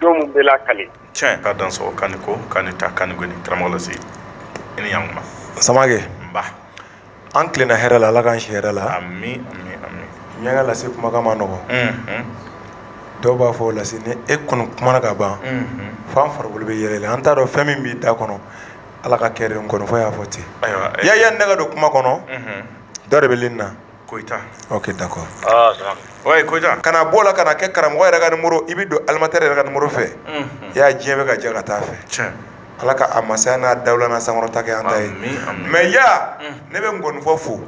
jɔn bɛ la kale tiɲɛ ka dan sɔrɔ kan ko kan ta kan ni karamɔgɔ lase i ni yan samake an tilenna hɛrɛ la ala k'an si hɛrɛ la min ka lase kumakan man nɔgɔ dɔw b'a fɔ lase ni e kɔni kumana ka ban fo an farikolo bɛ yɛrɛyɛrɛ an t'a dɔn fɛn min b'i da kɔnɔ ala ka kɛ nkɔnifɔ y'a fɔ ten ya ne ka don kuma kɔnɔ dɔ de bɛ lini na kana bɔ la kana kɛ karamɔgɔ yɛrɛ ka numéro i bɛ don animatɛri yɛrɛ ka numéro fɛ ya diɲɛ bɛ ka jɛ ka taa fɛ ala ka a masaya n'a dawula sankɔrɔta an ta ye mais ya ne bɛ nkɔnifɔ fo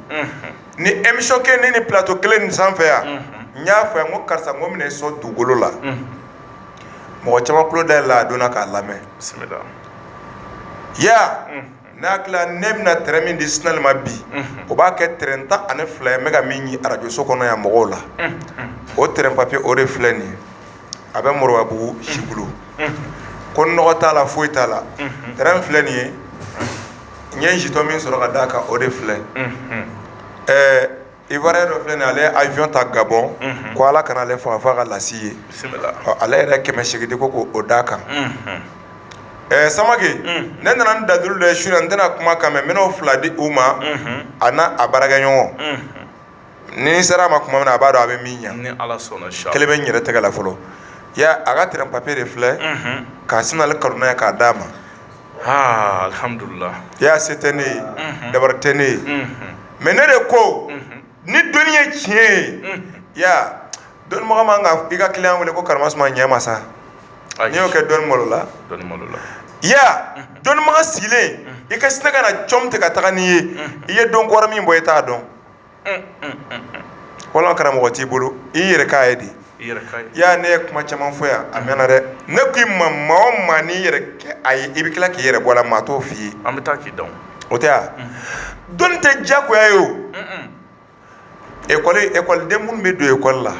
ni émission kɛ ne ni plateau kelen nin sanfɛ yan n y'a fɔ yan ko karisa ko n bɛn'i sɔn dugukolo la mɔgɔ caman tulo dayɛlɛla a donna k'a lamɛn ya n'a tila ne bɛna tɛrɛn min di sinali ma bi o b'a kɛ tɛrɛn tan ani fila ye n bɛ ka min ɲini arajoso kɔnɔ yan mɔgɔw la o tɛrɛn papiye o de filɛ nin ye a bɛ moribabugu si bolo ko nɔgɔ t'a la foyi t'a la tɛrɛn filɛ nin ye n ye jitɔ min sɔrɔ ka d'a kan o de filɛ ɛɛ Ivoirien dɔ filɛ nin ale ye avion ta Gabon unhun, ko Ala kana ale faga fo a ka laci ye, bisimila, ɔ ale yɛrɛ kɛmɛ seegin di ko k'o d'a kan, unhun, ɛ Samake, un, ne nana ni dalilu dɔ ye su in na n tɛna kuma a kan mais n bɛn'o fila di u ma, unhun, a n'a a baarakɛɲɔgɔn, unhun, ni n sera a ma tuma min na a b'a dɔn a bɛ min ɲɛ, ni Ala sɔnna inshallah, kelen bɛ n yɛrɛ tɛgɛ la fɔlɔ, i y'a ye a ka terrain papier de filɛ, unhun, ka Sinali kanu n'a ye k'a d'a ma alhamdulillah ya se tɛ ne ye dabari tɛ ne ye mais ne de ko ni dɔnni ye tiɲɛ ye ya dɔnnibaga man kan i ka client wele ko kara suma ɲɛ ma sa n'i y'o kɛ dɔnni malola ya dɔnnibaga sigilen i ka sina ka na com tigɛ ka taa n'i ye i ye dɔn kɔrɔ min bɔ i t'a dɔn wala karamɔgɔ t'i bolo i yɛrɛ k'a ye di ya ne ye kuma caman fɔ yan a mɛnna dɛ ne ko i ma maa o maa n'i yɛrɛ kɛ a ye i bɛ tila k'i yɛrɛ bɔ a la maa t'o fɔ i ye an bɛ taa k'i dɔn o tɛ yan dɔnni tɛ diyagoya ye o e ekɔliden minnu bɛ don ekɔli la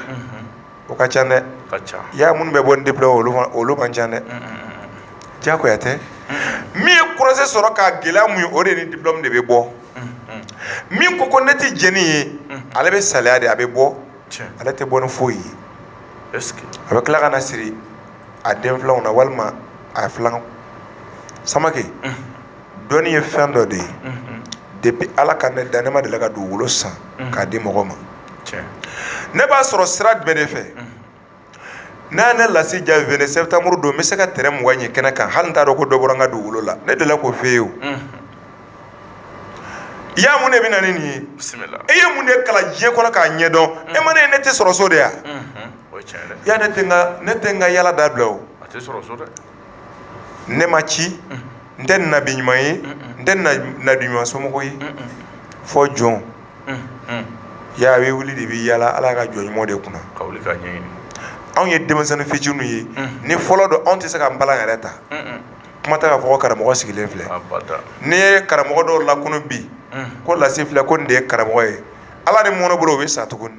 o ka ca dɛ ka ca ya minnu bɛ bɔ ni diplôme olu man ca dɛ diyagoya tɛ min ye kɔrɔɛ sɔrɔ k'a gɛlɛya mun ye o de ni diplôme de bɛ bɔ min ko ko ne tɛ jɛni ye ale bɛ saliya de a bɛ bɔ ale tɛ bɔ ni foyi ye a bɛ tila ka na siri a den filanw na walima a filan samake dɔnni ye fɛn dɔ de ye depuis ala ka ne dan ne ma deli ka dugukolo san k'a di mɔgɔ ma ne b'a sɔrɔ sira jumɛn de fɛ n'a ne lase ja vingt septembre don n bɛ se ka terrain mugan ɲɛ kɛnɛ kan hali n t'a dɔn ko dɔ bɔra n ka dugukolo la ne delila k'o f'e ye o i y'a mun de bɛ na ni nin ye e ye mun de kalan diɲɛ kɔnɔ k'a ɲɛdɔn e ma ne ne tɛ sɔrɔ so de ya ya ne tɛ n ka yaala dabila o ne ma ci n tɛ nabi ɲuman ye n tɛ nabi ɲuman somɔgɔw ye fɔ jɔn ya a bɛ wuli de bɛ yaala ala ka jɔn ɲuman de kunna anw ye denmisɛnnin fitininw ye ni fɔlɔ don anw tɛ se ka npalan yɛrɛ ta kuma tɛ k'a fɔ ko karamɔgɔ sigilen filɛ n'i ye karamɔgɔ dɔw lakunun bi ko lase filɛ ko nin de ye karamɔgɔ ye ala ni mɔnɛ bolo o bɛ sa tuguni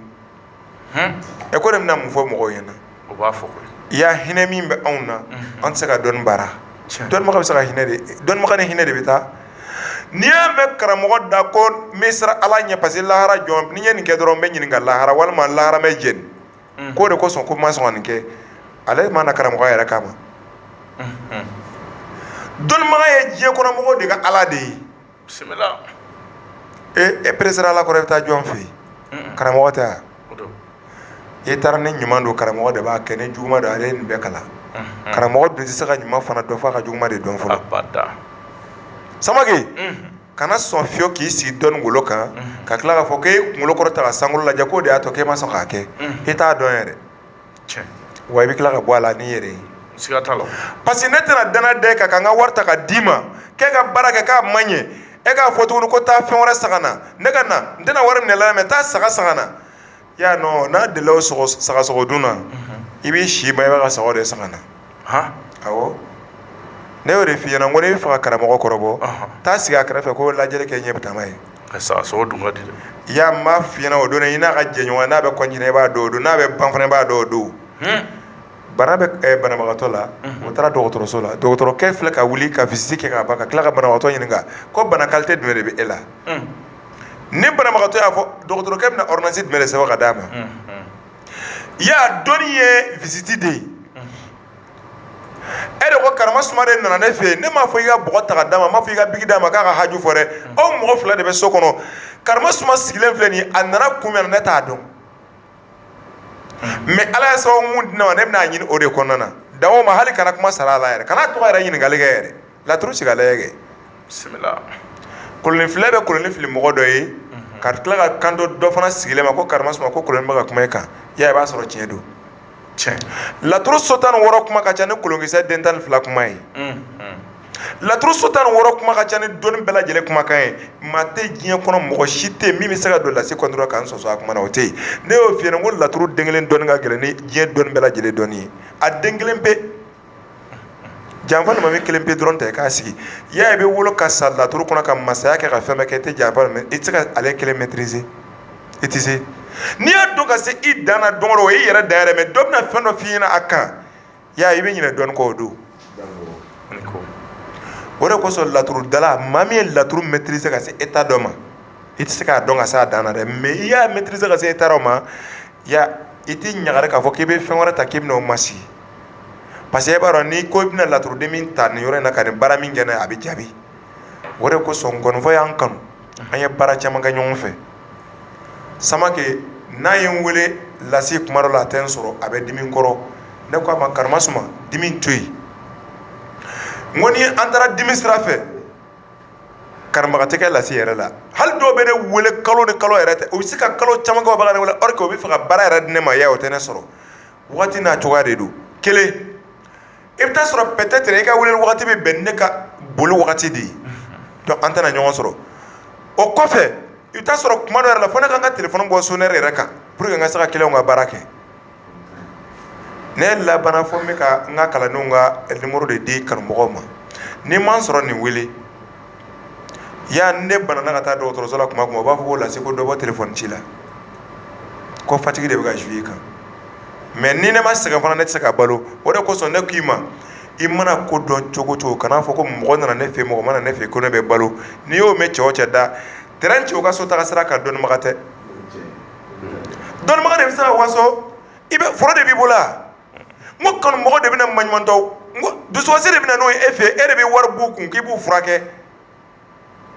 e ko ne bɛna mun fɔ mɔgɔw ɲɛna o b'a fɔ i y'a hinɛ min bɛ anw na an tɛ se ka dɔnni baara dɔnnibaga bɛ se ka hinɛ de dɔnnibaga ni hinɛ de bɛ taa n'i y'a mɛn karamɔgɔ da ko n bɛ siran ala ɲɛ parce que lahara jɔ ni n ye nin kɛ dɔrɔn n bɛ ɲininka lahara walima lahara n bɛ jeni k'o de kosɔn ko n ma sɔn ka nin kɛ ale ma na karamɔgɔya yɛrɛ kama dɔnnibaga ye diɲɛ kɔnɔ mɔgɔw de ka ala de ye e peresera ala kɔrɔ i bɛ taa jɔn fɛ yen karamɔgɔ tɛ wa i taara ni ɲuman don karamɔgɔ de b'a kɛ ni juguman don ale ye nin bɛɛ kalan karamɔgɔ dun tɛ se ka ɲuman fana dɔn f'a ka juguman de dɔn fɔlɔ samake kana sɔn fiyewu k'i sigi dɔnni golo kan ka tila k'a fɔ k'e kunkolo kɔrɔta ka sankolo lajɛ k'o de y'a to k'e ma sɔn k'a kɛ e t'a dɔn yɛrɛ wa i bɛ tila ka bɔ a la n'i yɛrɛ ye parce que ne tɛna danaya da e kan ka n ka wari ta ka d'i ma k'e ka baara kɛ k'a ma ɲɛ e k'a fɔ tuguni ko taa fɛn wɛrɛ san ka na ne ka na n tɛna wari minɛ la mais taa saga san ka na i y'a n'a delila o sagasogo dun na i bɛ si ma i b'a ka saga de san ka na awɔ ne y'o de f'i ɲɛna ko n'i b'a fɛ ka karamɔgɔ kɔrɔbɔ taa sigi a kɛrɛfɛ ko lajɛli kɛ ɲɛ bɛ taama ye a sa so dun ka di i y'a n b'a f'i ɲɛna o don i n'a ka jɛɲɔgɔn n'a bɛ continuer i b'a dɔn o don n'a bɛ ban fana i b'a dɔn o don bana bɛ banabagatɔ la o taara dɔgɔtɔrɔso la dɔgɔtɔrɔkɛ filɛ ka wuli ka visite kɛ ka ban ka tila ka banabagatɔ ɲininka ko bana qualité jumɛn de bɛ e la ni banabagatɔ y'a fɔ dɔgɔtɔrɔkɛ bɛna ordonnance jumɛn de sɛbɛn ka d'a ma i y'a dɔnni ye visite de ye e ko karamasuma de nana ne fɛ yen ne m'a fɔ i ka bɔgɔ ta ka d'a ma n m'a fɔ i ka biki d'a ma k'a ka haju fɔ dɛ aw mɔgɔ fila de bɛ so kɔnɔ karamasuma sigilen filɛ nin a nana kun min na ne t'a dɔn mais ala ye sababu min di ne ma ne bɛn'a ɲini o de kɔnɔna na dan o ma hali kana kuma sara a la yɛrɛ kana tɔgɔ yɛrɛ ɲininkali kɛ yɛrɛ laturu sigi kɛ kolon filɛ bɛ kolonnin fili mɔgɔ dɔ ye ka tila ka kanto dɔ fana sigilen ma ko karimasuma ko kolon bɛ ka kuma e kan i b'a sɔrɔ tiɲɛ don cɛn laturu so tan ni wɔɔrɔ kuma ka ca ni kolonkisɛ den tan ni fila kuma ye laturu so tan ni wɔɔrɔ kuma ka ca ni dɔnni bɛɛ lajɛlen kumakan ye maa tɛ diɲɛ kɔnɔ mɔgɔ si tɛ min bɛ se ka don lase kɔnɔ dɔrɔn ka sɔsɔ a kuma na o tɛ yen ne y'o f'i ɲɛna ko laturu den kelen dɔnni ka gɛlɛn ni diɲɛ dɔnni bɛɛ lajɛlen dɔnni ye a den kelen pe janfa almami kelen pe dɔrɔn tɛ k'a sigi ya i bɛ wolo ka sa laturu kɔnɔ ka masaya kɛ ka fɛn bɛɛ kɛ e tɛ janfa i tɛ se ka ale kelen maîtriser i tɛ se n'i y'a dɔn ka se i dan na don o e yɛrɛ dan yɛrɛ mais dɔ bɛna fɛn dɔ f'i ɲɛna a kan ya i bɛ ɲinɛ dɔɔni kɔ o don o de kosɔn laturudala maa min ye laturu maîtriser ka se état dɔ ma i tɛ se k'a dɔn ka se a dan na dɛ mais i y'a maîtriser ka se état dɔ ma i tɛ ɲagari k'a fɔ k'i bɛ fɛn wɛrɛ ta k'i bɛ o masigi parce que e b'a dɔn n'i ko i bɛna laturuden min ta nin yɔrɔ in na ka nin baara min kɛ n'a ye a bɛ jaabi o de kosɔn nkɔnifɔ y'an kanu an ye baara caman kɛ ɲɔgɔn fɛ Samake n'a ye n wele lasi kuma dɔ la a tɛ n sɔrɔ a bɛ dimi n kɔrɔ ne k'a ma karimasuma dimi to yen n ko ni an taara dimi sira fɛ karamɔgɔ tɛ kɛ lasi yɛrɛ la hali dɔw bɛ ne wele kalo ni kalo yɛrɛ tɛ u bɛ se ka kalo caman kɛ o bɛ ka ne wele or que u bɛ fɛ ka baara yɛrɛ di ne ma y'a ye o tɛ ne sɔrɔ waati n'a cogoya de don kelen i bɛ taa sɔrɔ peut-être i ka wele waati bɛ bɛn ne ka boli wagati de ye donc an tɛna ɲɔgɔn sɔrɔ o kɔfɛ i bɛ taa sɔrɔ kuma dɔ yɛrɛ la fo ne ka n ka téléphone bɔ sonnerie yɛrɛ kan pour que n ka se ka clientw ka baara kɛ ne labanna fo n bɛ ka n ka kalandenw ka numéro de di kanumɔgɔ ma n'i ma n sɔrɔ nin wele ya ne banana ka taa dɔgɔtɔrɔso la tuma u b'a fɔ ko lase ko dɔ bɔ téléphone ci la ko fatigue de bɛ ka jouer i kan mais ni ne ma sɛgɛn fana ne tɛ se ka balo o de kosɔn ne k'i ma i mana ko dɔn cogo cogo kana a fɔ ko mɔgɔ nana ne fɛ mɔgɔ ma na ne fɛ ko ne bɛ balo n'i y'o mɛn cɛ o cɛ da t ci u ka so taga sira kan dɔnnibaga tɛ dɔnni de bɛ se ka waso i bɛ foro de b'i bolo n ko kanumɔgɔ de bɛ na maɲumantɔw n ko dusukasi de bɛ na n'o ye e fɛ e de bɛ wari b'u kun k'i b'u furakɛ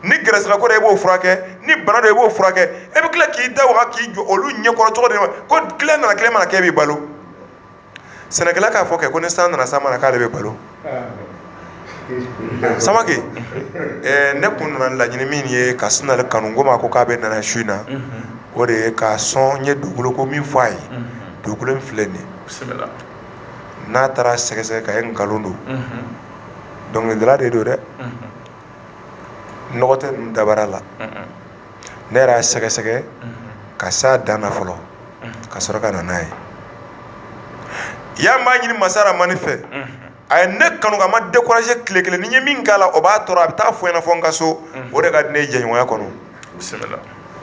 ni gɛrɛsɛgɛko de e b'o furakɛ ni bana dɔ i b'o furakɛ e bɛ tila k'i da waga k'i jɔ olu ɲɛkɔrɔ cogo de ma ko client nana client ma na k'e b'i balo sɛnɛkɛla k'a fɔ kɛ ko ni san nana san ma na k'ale bɛ balo samake ne kun nana laɲini min ye ka sin ale kanu ko ma ko k'a bɛ nana su in na o de ye kosɔn n ye dugukolo ko min fɔ a ye dugukolo in filɛ nin n'a taara a sɛgɛsɛgɛ k'a ye nkalon don dɔnkilidala de don dɛ nɔgɔ tɛ ninnu dabara la ne yɛrɛ y'a sɛgɛsɛgɛ ka s'a dan na fɔlɔ ka sɔrɔ ka na n'a ye yan b'a ɲini masa rahamani fɛ a ye ne kanu k'a ma décourager tile kelen ni n ye min k'a la o b'a tɔɔrɔ a bɛ taa fɔ n ɲɛna fo n ka so o de ka di ne ye jɛɲɔgɔnya kɔnɔ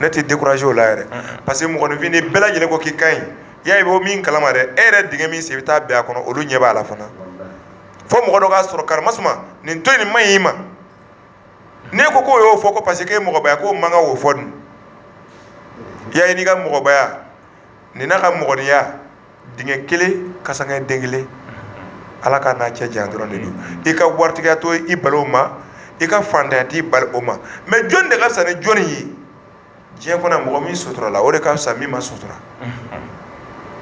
ne tɛ décourager o la yɛrɛ parce que mɔgɔninfin nin bɛɛ lajɛlen ko k'i ka ɲi ya i b'o min kalama dɛ e yɛrɛ dingɛ min sen i bɛ taa bin a kɔnɔ olu ɲɛ b'a la fana fo mɔgɔ dɔ k'a sɔrɔ karamasuma nin to yen nin man ɲi i ma ne ko k'o y'o fɔ ko parce que i mɔgɔbaya ko o man kan k'o fɔ dun ya i n'i ka mɔgɔbaya nin n'a ka mɔgɔninya dingɛ kelen kasankɛ den kelen ala ka n'a cɛ janya dɔrɔn de don i ka waritigiya tɛ i bali o ma i ka fantanya t'i bali o ma mais jɔn de ka fisa ni jɔnni ye diɲɛ kɔnɔ mɔgɔ min suturala o de ka fisa min ma sutura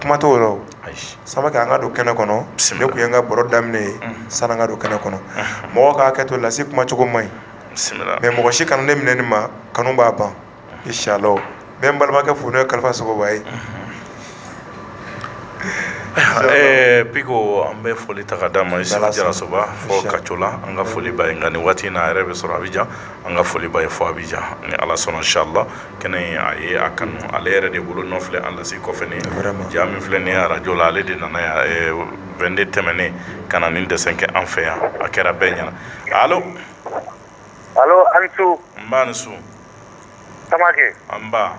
kuma t'o la o samake an ka don kɛnɛ kɔnɔ ne tun ye n ka baro daminɛ ye sani an ka don kɛnɛ kɔnɔ mɔgɔ k'a hakɛ to lase kumacogo man ɲi mais mɔgɔ si kana ne minɛ nin ma kanu b'a ban inshallah n bɛ n balimakɛ fo n'o ye kalifa sogoba ye biko an bɛ foli ta ka d'a ma isa jarasoba fo kacola an ka foli b'a ye nka nin waati n'a yɛrɛ bɛ sɔrɔ abijan an ka foli b'a ye fo abijan ni ala sɔnna inshallah kɛnɛ in a ye a kanu ale yɛrɛ de bolo nɔ filɛ an lase kɔfɛ nin ja min filɛ nin ye arajo la ale de nana yan 22 tɛmɛnen ka na nin dessin kɛ an fɛ yan a kɛra bɛɛ ɲɛna allo a ni su nba a ni su samake nba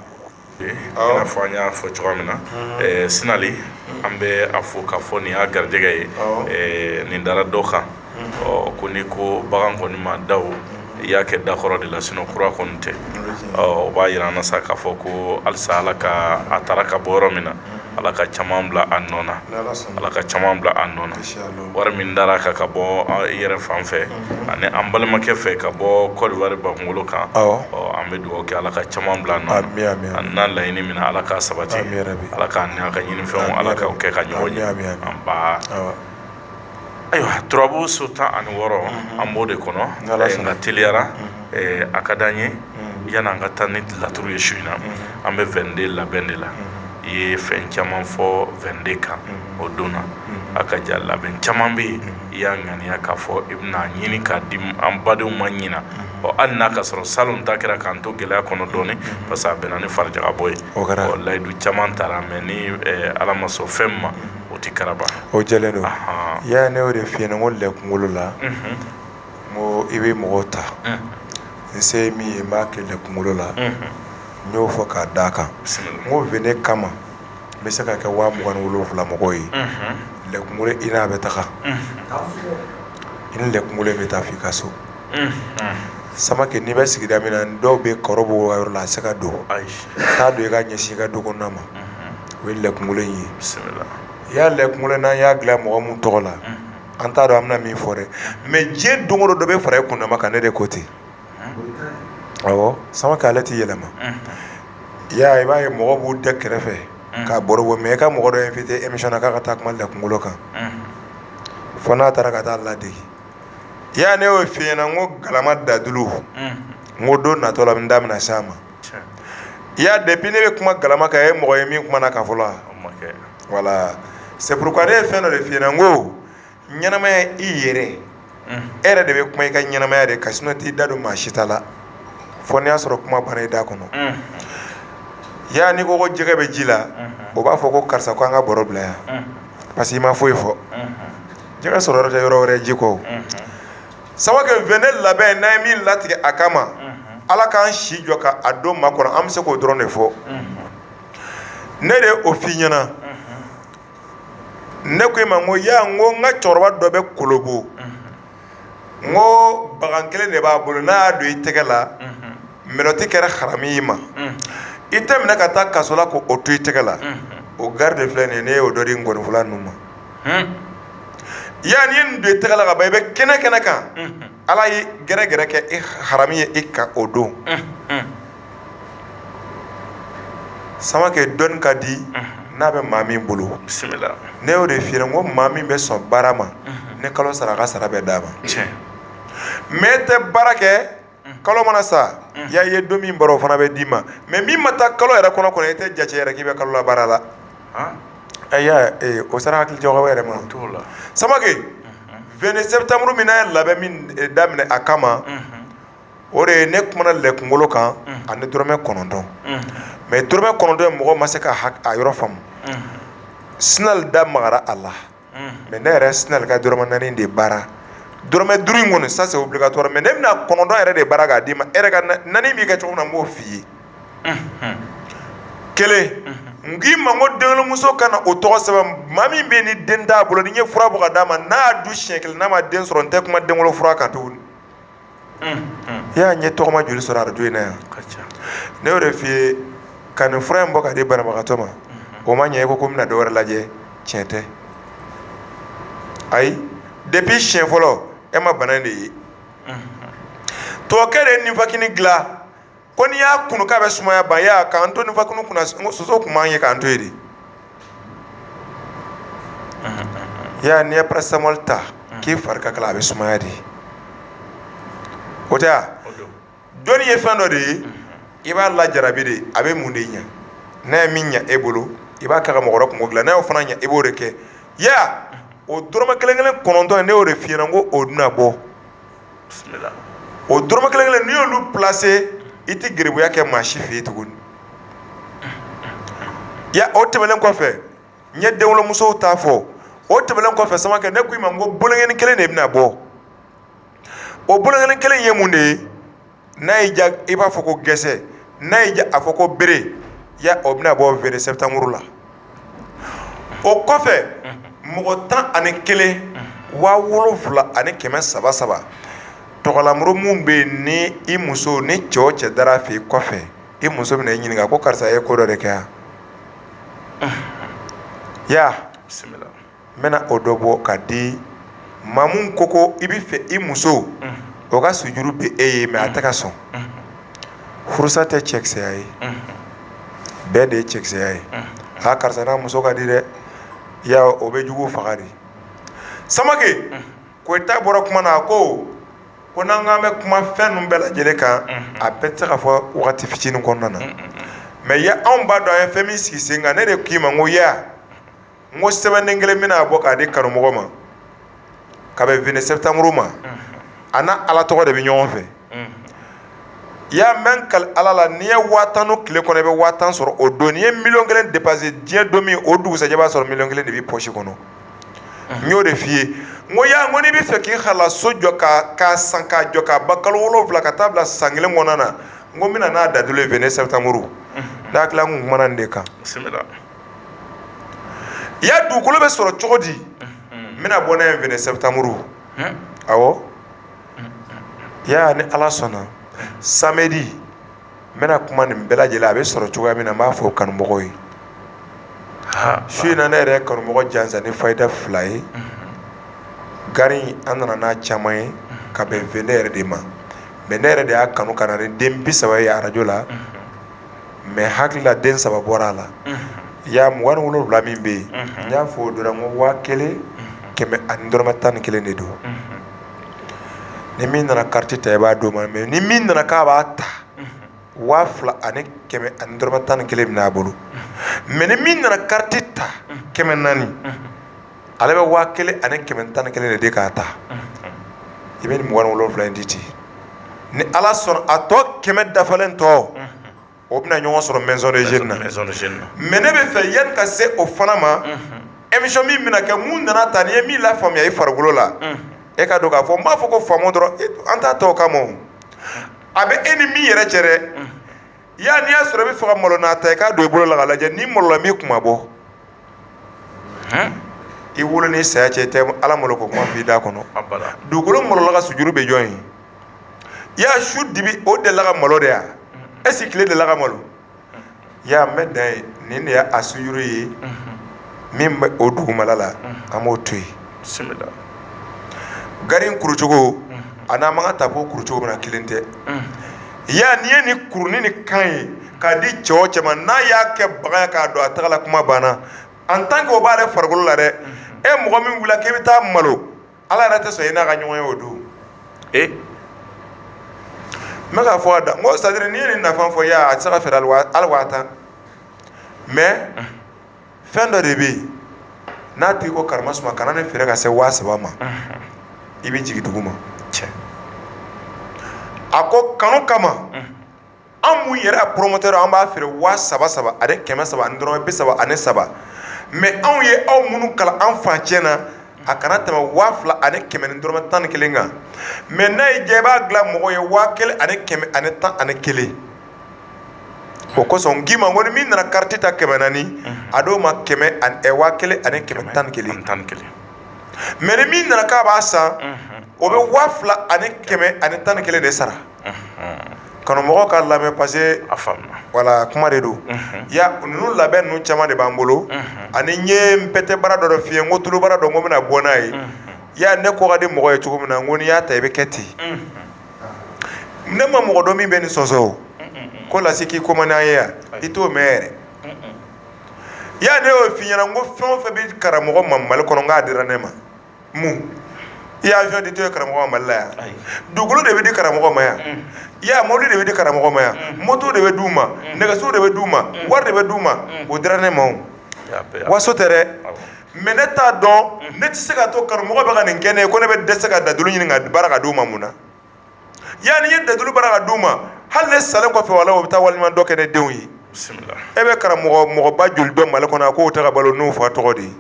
Awɔ. I n'a fɔ an y'a fɔ cogoya min na, ɛɛ Sinali, an bɛ a fo k'a fɔ nin y'a garijɛgɛ ye, awɔ, ɛɛ nin dara dɔ kan, ɔ ko n'i ko bagan kɔni ma da o, i y'a kɛ da kɔrɔ de la sinon kura kɔni tɛ, ɔ o b'a yira an na sa k'a fɔ ko halisa Ala ka a taara ka bɔ yɔrɔ min na ala ka caman bila a nɔ na ala ka caman bila a nɔ na wari min dara a kan ka bɔ i yɛrɛ fan fɛ ani an balimakɛ fɛ ka bɔ kɔdiwari bakunkolo kan an bɛ dugawu kɛ ala ka caman bila a nɔ na an n'a laɲini min na ala k'a sabati ala k'a ka ɲinifɛnw ala ka kɛ ka ɲɔgɔn ye Ayiwa turabu so tan ani wɔɔrɔ an b'o de kɔnɔ nka teliyara a ka di an ye yanni an ka taa ni laturu ye su in na an bɛ vingt-deux labɛn de la i ye fɛn caman fɔ vingt-deux kan o don na a ka ja labɛn caman bɛ yen i y'a ŋaniya k'a fɔ i bɛna ɲini k'a di an badenw ma ɲinan ɔ hali n'a ka sɔrɔ salon ta kɛra k'an to gɛlɛya kɔnɔ dɔɔnin parce que a bɛnna ni farijagabɔ ye layidu caman taara mais ni ala ma sɔn fɛn ma o tɛ karaba o jɛlen don i y'a ne o de f'i ɲɛna n ko lɛ kunkolo la ko i bɛ mɔgɔw ta n se min ye b'a kɛ lɛ kunkolo la n y'o fɔ k'a da a kan n ko vingt nin kama n bɛ se ka kɛ waa mugan ni wolonwula mɔgɔw ye lɛ kunkolo i n'a bɛ taga i ni lɛ kunkolo bɛ taa f'i ka so Samakɛ n'i bɛ sigida min na dɔw bɛ kɔrɔ b'o yɔrɔ la a se ka don ayi t'a don i ka ɲɛsin i ka du ma o ye lɛ kunkolo in ye i y'a lɛ kunkolo n'an y'a dilan mɔgɔ min tɔgɔ la an t'a dɔn an bɛna min fɔ dɛ mais diɲɛ don o don dɔ bɛ fara i kundama kan ne de ko ten Samakɛ ale t'i yɛlɛma i y'a i b'a ye mɔgɔ b'u da kɛrɛfɛ k'a baro bɔ mais i ka mɔgɔ dɔ invité émission na k'a ka taa kuma lɛ kunkolo kan fo n'a taara ka taa ladege i y'a ne y'o f'i ɲɛna ko galama dadulu n ko don natɔ la n da bɛna s'a ma i y'a depuis ne bɛ kuma galama kan ye mɔgɔ ye min kumana a kan fɔlɔ voilà c'est pourquoi ne ye fɛn dɔ de f'i ɲɛna n ko ɲɛnamaya i yɛrɛ e yɛrɛ de bɛ kuma i ka ɲɛnamaya de kan sinon t'i da don maa si ta la fo n'i y'a sɔrɔ kuma banna i da kɔnɔ i y'a n'i ko ko jɛgɛ bɛ ji la o b'a fɔ ko karisa ko an ka baro bila yan parce que i ma foyi fɔ jɛgɛ sɔrɔ yɔrɔ tɛ yɔrɔ wɛrɛ ji kɔ Samakɛ vingt nin labɛn n'an ye min latigɛ a kama ala k'an si jɔ k'a don makɔnɔ an bɛ se k'o dɔrɔn de fɔ ne de o f'i ɲɛna ne ko i ma n ko y'a n ko n ka cɛkɔrɔba dɔ bɛ Kolobo n ko bagan kelen de b'a bolo n'a y'a don i tɛgɛ la mɛlɔti kɛra harami i ma i tɛ minɛ ka taa kaso la k'o to i tɛgɛ la o garde de filɛ nin ye ne y'o dɔ di ŋɔnifɔla ninnu ma yan n'i ye nin don i tɛgɛ la ka ban i bɛ kɛnɛ kɛnɛ kan ala ye gɛrɛgɛrɛ kɛ harami ye i kan o don Samakɛ dɔnni ka di n'a bɛ maa min bolo ne y'o de f'i ɲɛna n ko maa min bɛ sɔn baara ma ni kalo sara a ka sara bɛ d'a ma mais e tɛ baara kɛ kalo mana sa y'a ye don min baara fana bɛ d'i ma mais min ma taa kalo yɛrɛ kɔnɔ kɔnɔ e tɛ jate yɛrɛ k'i bɛ kalola baara la o sera hakili jagabɔ yɛrɛ ma Samakɛ vingt septembre min n'an ye labɛn min daminɛ a kama o de ye ne kumana lɛ kunkolo kan ani dɔrɔmɛ kɔnɔntɔn mais dɔrɔmɛ kɔnɔntɔn in mɔgɔ ma se ka a yɔrɔ faamu Sinali da magara a la mais ne yɛrɛ Sinali ka dɔrɔmɛ naani de baara dɔrɔmɛ duuru in kɔni ça c'est obligatoire mais ne bɛna kɔnɔntɔn yɛrɛ de baara k'a d'i ma e yɛrɛ ka naani b'i kɛ cogo min na n b'o f'i ye kelen n k'i ma n ko denwolomuso ka na o tɔgɔ sɛbɛn maa min bɛ yen ni den t'a bolo ni n ye fura bɔ ka d'a ma n'a y'a dun siɲɛ kelen n'a ma den sɔrɔ n tɛ kuma denwolo fura kan tugun i y'a ɲɛ tɔgɔma joli sɔrɔ arajo in na yan ne y'o de f'i ye ka nin fura in bɔ ka di banabagatɔ ma o ma ɲɛ i ko ko n bɛna dɔ wɛrɛ lajɛ tiɲɛ tɛ ayi depuis siɲɛ fɔlɔ e ma bana de ye tɔkɛ de nivakini dilan ko n'i y'a kunu k'a bɛ sumaya ban ya k'an to nivakini kunna soso tun b'an ye k'an to yen de ya n'i ye paracetamol ta k'i fari ka kalan a bɛ sumaya de o tɛ wa dɔnni ye fɛn dɔ de ye i b'a lajarabi de a bɛ mun de ɲɛ n'a ye min ɲɛ e bolo i b'a kɛ ka mɔgɔ wɛrɛ kunko dilan n'a y'o fana ɲɛ i b'o de kɛ ya o dɔrɔmɛ kelen kelen kɔnɔntɔn in ne y'o de f'i ɲɛna n ko o de bɛna bɔ o dɔrɔmɛ kelen kelen n'i y'olu plase i tɛ garibuya kɛ maa si fɛ yen tuguni ya o tɛmɛnen kɔfɛ n ye denwolomusow t'a fɔ o tɛmɛnen kɔfɛ samake ne ko i ma n ko boloŋɛni kelen de bɛna bɔ o boloŋɛni kelen ye mun de ye n'a y'i diya i b'a fɔ ko gɛsɛ n'a y'i diya a fɔ ko bere ya o bɛna bɔ vingt septembre la o kɔfɛ mɔgɔ tan ani kelen waa wolonwula ani kɛmɛ saba saba tɔgɔlamuru minnu bɛ yen ni i muso ni cɛ o cɛ dara fɛ i kɔfɛ i muso bɛna i ɲininka ko karisa ye ko dɔ de kɛ yan ya n bɛna o dɔ bɔ ka di ma mun ko ko i bɛ fɛ i muso o ka sujuru bɛ e ye mɛ a tɛ ka sɔn furusa tɛ cɛkisɛya ye bɛn de ye cɛkisɛya ye aa karisa n'a muso ka di dɛ ya o bɛ jugu faga de samake koyita bɔra kuma na a ko ko n'an k'an bɛ kuma fɛn ninnu bɛɛ lajɛlen kan a bɛɛ tɛ se ka fɔ waati fitinin kɔnɔna na mɛ ya anw b'a dɔn an ye fɛn min sigi sen kan ne de k'i ma n ko n ko sɛbɛnden kelen bɛna bɔ k'a di kanumɔgɔ ma ka bɛn vingt septembre ma a n'a ala tɔgɔ de bɛ ɲɔgɔn fɛ i y'a mɛn kali ala la n'i ye waa tan dun tile kɔnɔ i bɛ waa tan sɔrɔ o don n'i ye miliyɔn kelen depanse diɲɛ don min o dugusajɛ b'a sɔrɔ miliyɔn kelen de b'i pɔsi kɔnɔ n y'o de f'i ye n ko ya n ko n'i bɛ fɛ k'i halala so jɔ k'a san k'a jɔ k'a ban kalo wolowula ka taa bila san kelen kɔnɔna na n ko n bɛna n'a dalilu ye vingt septembre ne hakili la n tun kumana nin de kan ya dugukolo bɛ sɔrɔ cogo di n bɛna bɔ n'a ye vingt septembre awɔ ya ni ala sɔnna samedi n bɛna kuma nin bɛɛ lajɛlen a bɛ sɔrɔ cogoya min na n b'a fɔ kanumɔgɔw ye su in na ne yɛrɛ ye kanumɔgɔ jansa ni fayida fila ye gari an nana n'a caman ye ka bɛn vingt yɛrɛ de ma mɛ ne yɛrɛ de y'a kanu ka na ni den bi saba ye arajo la mɛ hakili la den saba bɔra a la ya mugan ni wolonwula min bɛ yen n y'a fɔ o dɔrɔn ko waa kelen kɛmɛ ani dɔrɔmɛ tan ni kelen de don ni min nana kariti ta i b'a d'o ma mɛ ni min nana k'a b'a ta waa fila ani kɛmɛ ani dɔrɔmɛ tan ni kelen bɛ min'a bolo mɛ ni min nana kariti ta kɛmɛ naani ale bɛ waa kelen ani kɛmɛ tan ni kelen de di k'a ta i bɛ nin mugan ni wolonwula in di ten ni ala sɔnna a tɔ kɛmɛ dafalen tɔ o bɛna ɲɔgɔn sɔrɔ maison des jeunes na mɛ ne bɛ fɛ yanni ka se o fana ma emisiyɔn min bɛna kɛ mun nana ta n'i ye min lafaamuya i farikolo la e k'a dɔn k'a fɔ n b'a fɔ ko faamu dɔrɔn an t'a tɔ kama a bɛ e ni min yɛrɛ cɛ dɛ ya n'i y'a sɔrɔ i bɛ fɛ ka malo n'a ta i k'a don i bolo la ka lajɛ ni malola min kuma bɔ i wolo ni saya cɛ i tɛ ala malo ko kuma fɔ i da kɔnɔ dugukolo malola ka sujuru bɛ jɔn ye ya su dibi o delila ka malo de ya ɛsike tile delila ka malo ya n bɛ dan yen nin de y' a sujuru ye min bɛ o dugumala la an b'o to yen gari kurucogo a n'a ma ka tafo kurucogo min na kelen tɛ ya n'i ye nin kuru ni nin kan ye k'a di cɛ o cɛ ma n'a y'a kɛ bagan ye k'a don a tagala kuma banna an tan ke o b'ale farikolo la dɛ e mɔgɔ min wilila k'i bɛ taa malo ala yɛrɛ tɛ sɔn i n'a ka ɲɔgɔn ye o don e n bɛ k'a fɔ a da ko sadiri n'i ye nin nafa fɔ ya a tɛ se ka feere hali waa tan mɛ fɛn dɔ de bɛ yen n'a tigi ko karamasuma kana nin feere ka se waa saba ma i bɛ jigin dugu ma cɛ a ko kanu kama an mun yɛrɛ a poromotɛri an b'a feere waa saba saba ani kɛmɛ saba ani dɔrɔmɛ bi saba ani saba mɛ anw ye aw minnu kalan an fan cɛ na a kana tɛmɛ waa fila ani kɛmɛ ni dɔrɔmɛ tan ni kelen kan mɛ n'a y'i diya i b'a dilan mɔgɔ ye waa kelen ani kɛmɛ ani tan ani kelen o kosɔn n k'i ma ko ni min nana kariti ta kɛmɛ naani a d'o ma waa kelen ani kɛmɛ tan ni kelen mɛ ni min nana k'a b'a san o bɛ waa fila ani kɛmɛ ani tan ni kelen de sara karamɔgɔ ka lamɛn paseke wala kuma de don ya ninnu labɛn ninnu caman de b'an bolo ani n ye pɛtɛ baara dɔ dɔ f'i ye ko tulu baara dɔ ko bɛna bɔ n'a ye ya ne ko ka di mɔgɔ ye cogo min na ko n'i y'a ta i bɛ kɛ ten ne ma mɔgɔ dɔn min bɛ nin sɔsɔ o ko lase k'i ko ma n'a ye yan i t'o mɛn yɛrɛ ya ne y'o f'i ɲɛna ko fɛn o fɛn bɛ karamɔgɔ ma mali kɔnɔ k'a dira ne ma mun ya awiyɔn ditɔ ye karamɔgɔ ma mali la yan dugukolo de bɛ di karamɔgɔ ma yan ya mobili de bɛ di karamɔgɔ ma yan moto de bɛ d' u ma nɛgɛso de bɛ d' u ma wari de bɛ d' u ma o dira ne ma waso tɛ dɛ mɛ ne t'a dɔn ne tɛ se ka to karamɔgɔ bɛ ka nin kɛ ne ko ne bɛ dɛsɛ ka dadulu ɲini ka baara ka d'u ma mun na ya n'i ye dadulu baara ka d'u ma hali ne salen kɔfɛ wala o bɛ taa waliɲuman dɔ kɛ ne denw ye e bɛ karamɔgɔ mɔgɔba joli dɔn mali kɔnɔ k'o tɛ ka balo n'u fa tɔgɔ de ye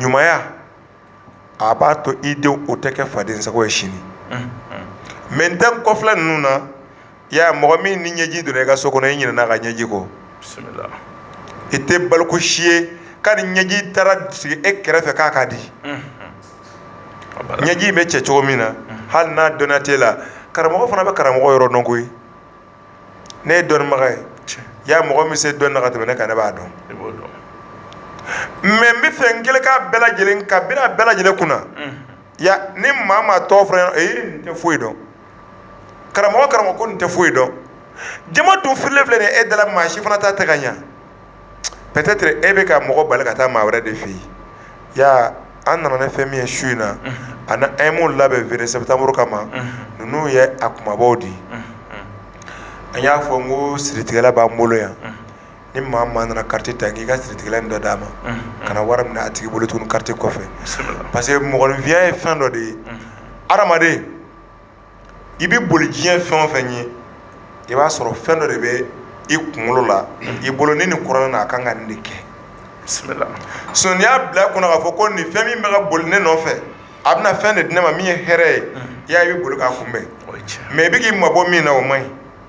ɲumanya a b'a to i denw o tɛ kɛ fadensago ye sini mɛ n tɛ kɔfilɛ ninnu na ya mɔgɔ min ni ɲɛji donna i ka so kɔnɔ i ɲinɛna a ka ɲɛji kɔ i tɛ baloko si ye k'a ni ɲɛji taara sigi e kɛrɛfɛ k'a ka di ɲɛji bɛ cɛ cogo min na hali n'a dɔnniya t'e la karamɔgɔ fana bɛ karamɔgɔ yɔrɔ dɔn koyi ne ye dɔnnibaga ye ya mɔgɔ min se dɔnni na ka tɛmɛ ne kan ne b'a dɔn mɛ n bɛ fɛn kelen ka bɛɛ lajɛlen ka bɛn bɛɛ lajɛlen kunna ya ni maa maa tɔw fana nin tɛ foyi dɔn karamɔgɔ karamɔgɔ ko nin tɛ foyi dɔn jama dun firilen filɛ nin ye e dala maa si fana ta tɛ ka ɲa peut-être e bɛ ka mɔgɔ bali ka taa maa wɛrɛ de fɛ yen ya an nana ni fɛn min ye su in na ani an ye mun labɛn vingt septembre kama ninnu ye a kumabaw de ye an y'a fɔ n ko siritigɛla b'an bolo yan ni maa maa nana carte ta k'i ka siritigɛla in dɔ d'a ma kana wari minɛ a tigi bolo tuguni carte kɔfɛ parce que mɔgɔninfinya ye fɛn dɔ de ye adamaden i bɛ boli diɲɛ fɛn o fɛn ye i b'a sɔrɔ fɛn dɔ de bɛ i kunkolo la i bolo ni nin kɔrɔ na a ka kan ka nin de kɛ sinon n'i y'a bila kunna k'a fɔ ko nin fɛn min bɛ ka boli ne nɔfɛ a bɛna fɛn de di ne ma min ye hɛrɛ ye i y'a ye i bɛ boli k'a kunbɛn mɛ i bɛ k'i mabɔ min na o man ɲi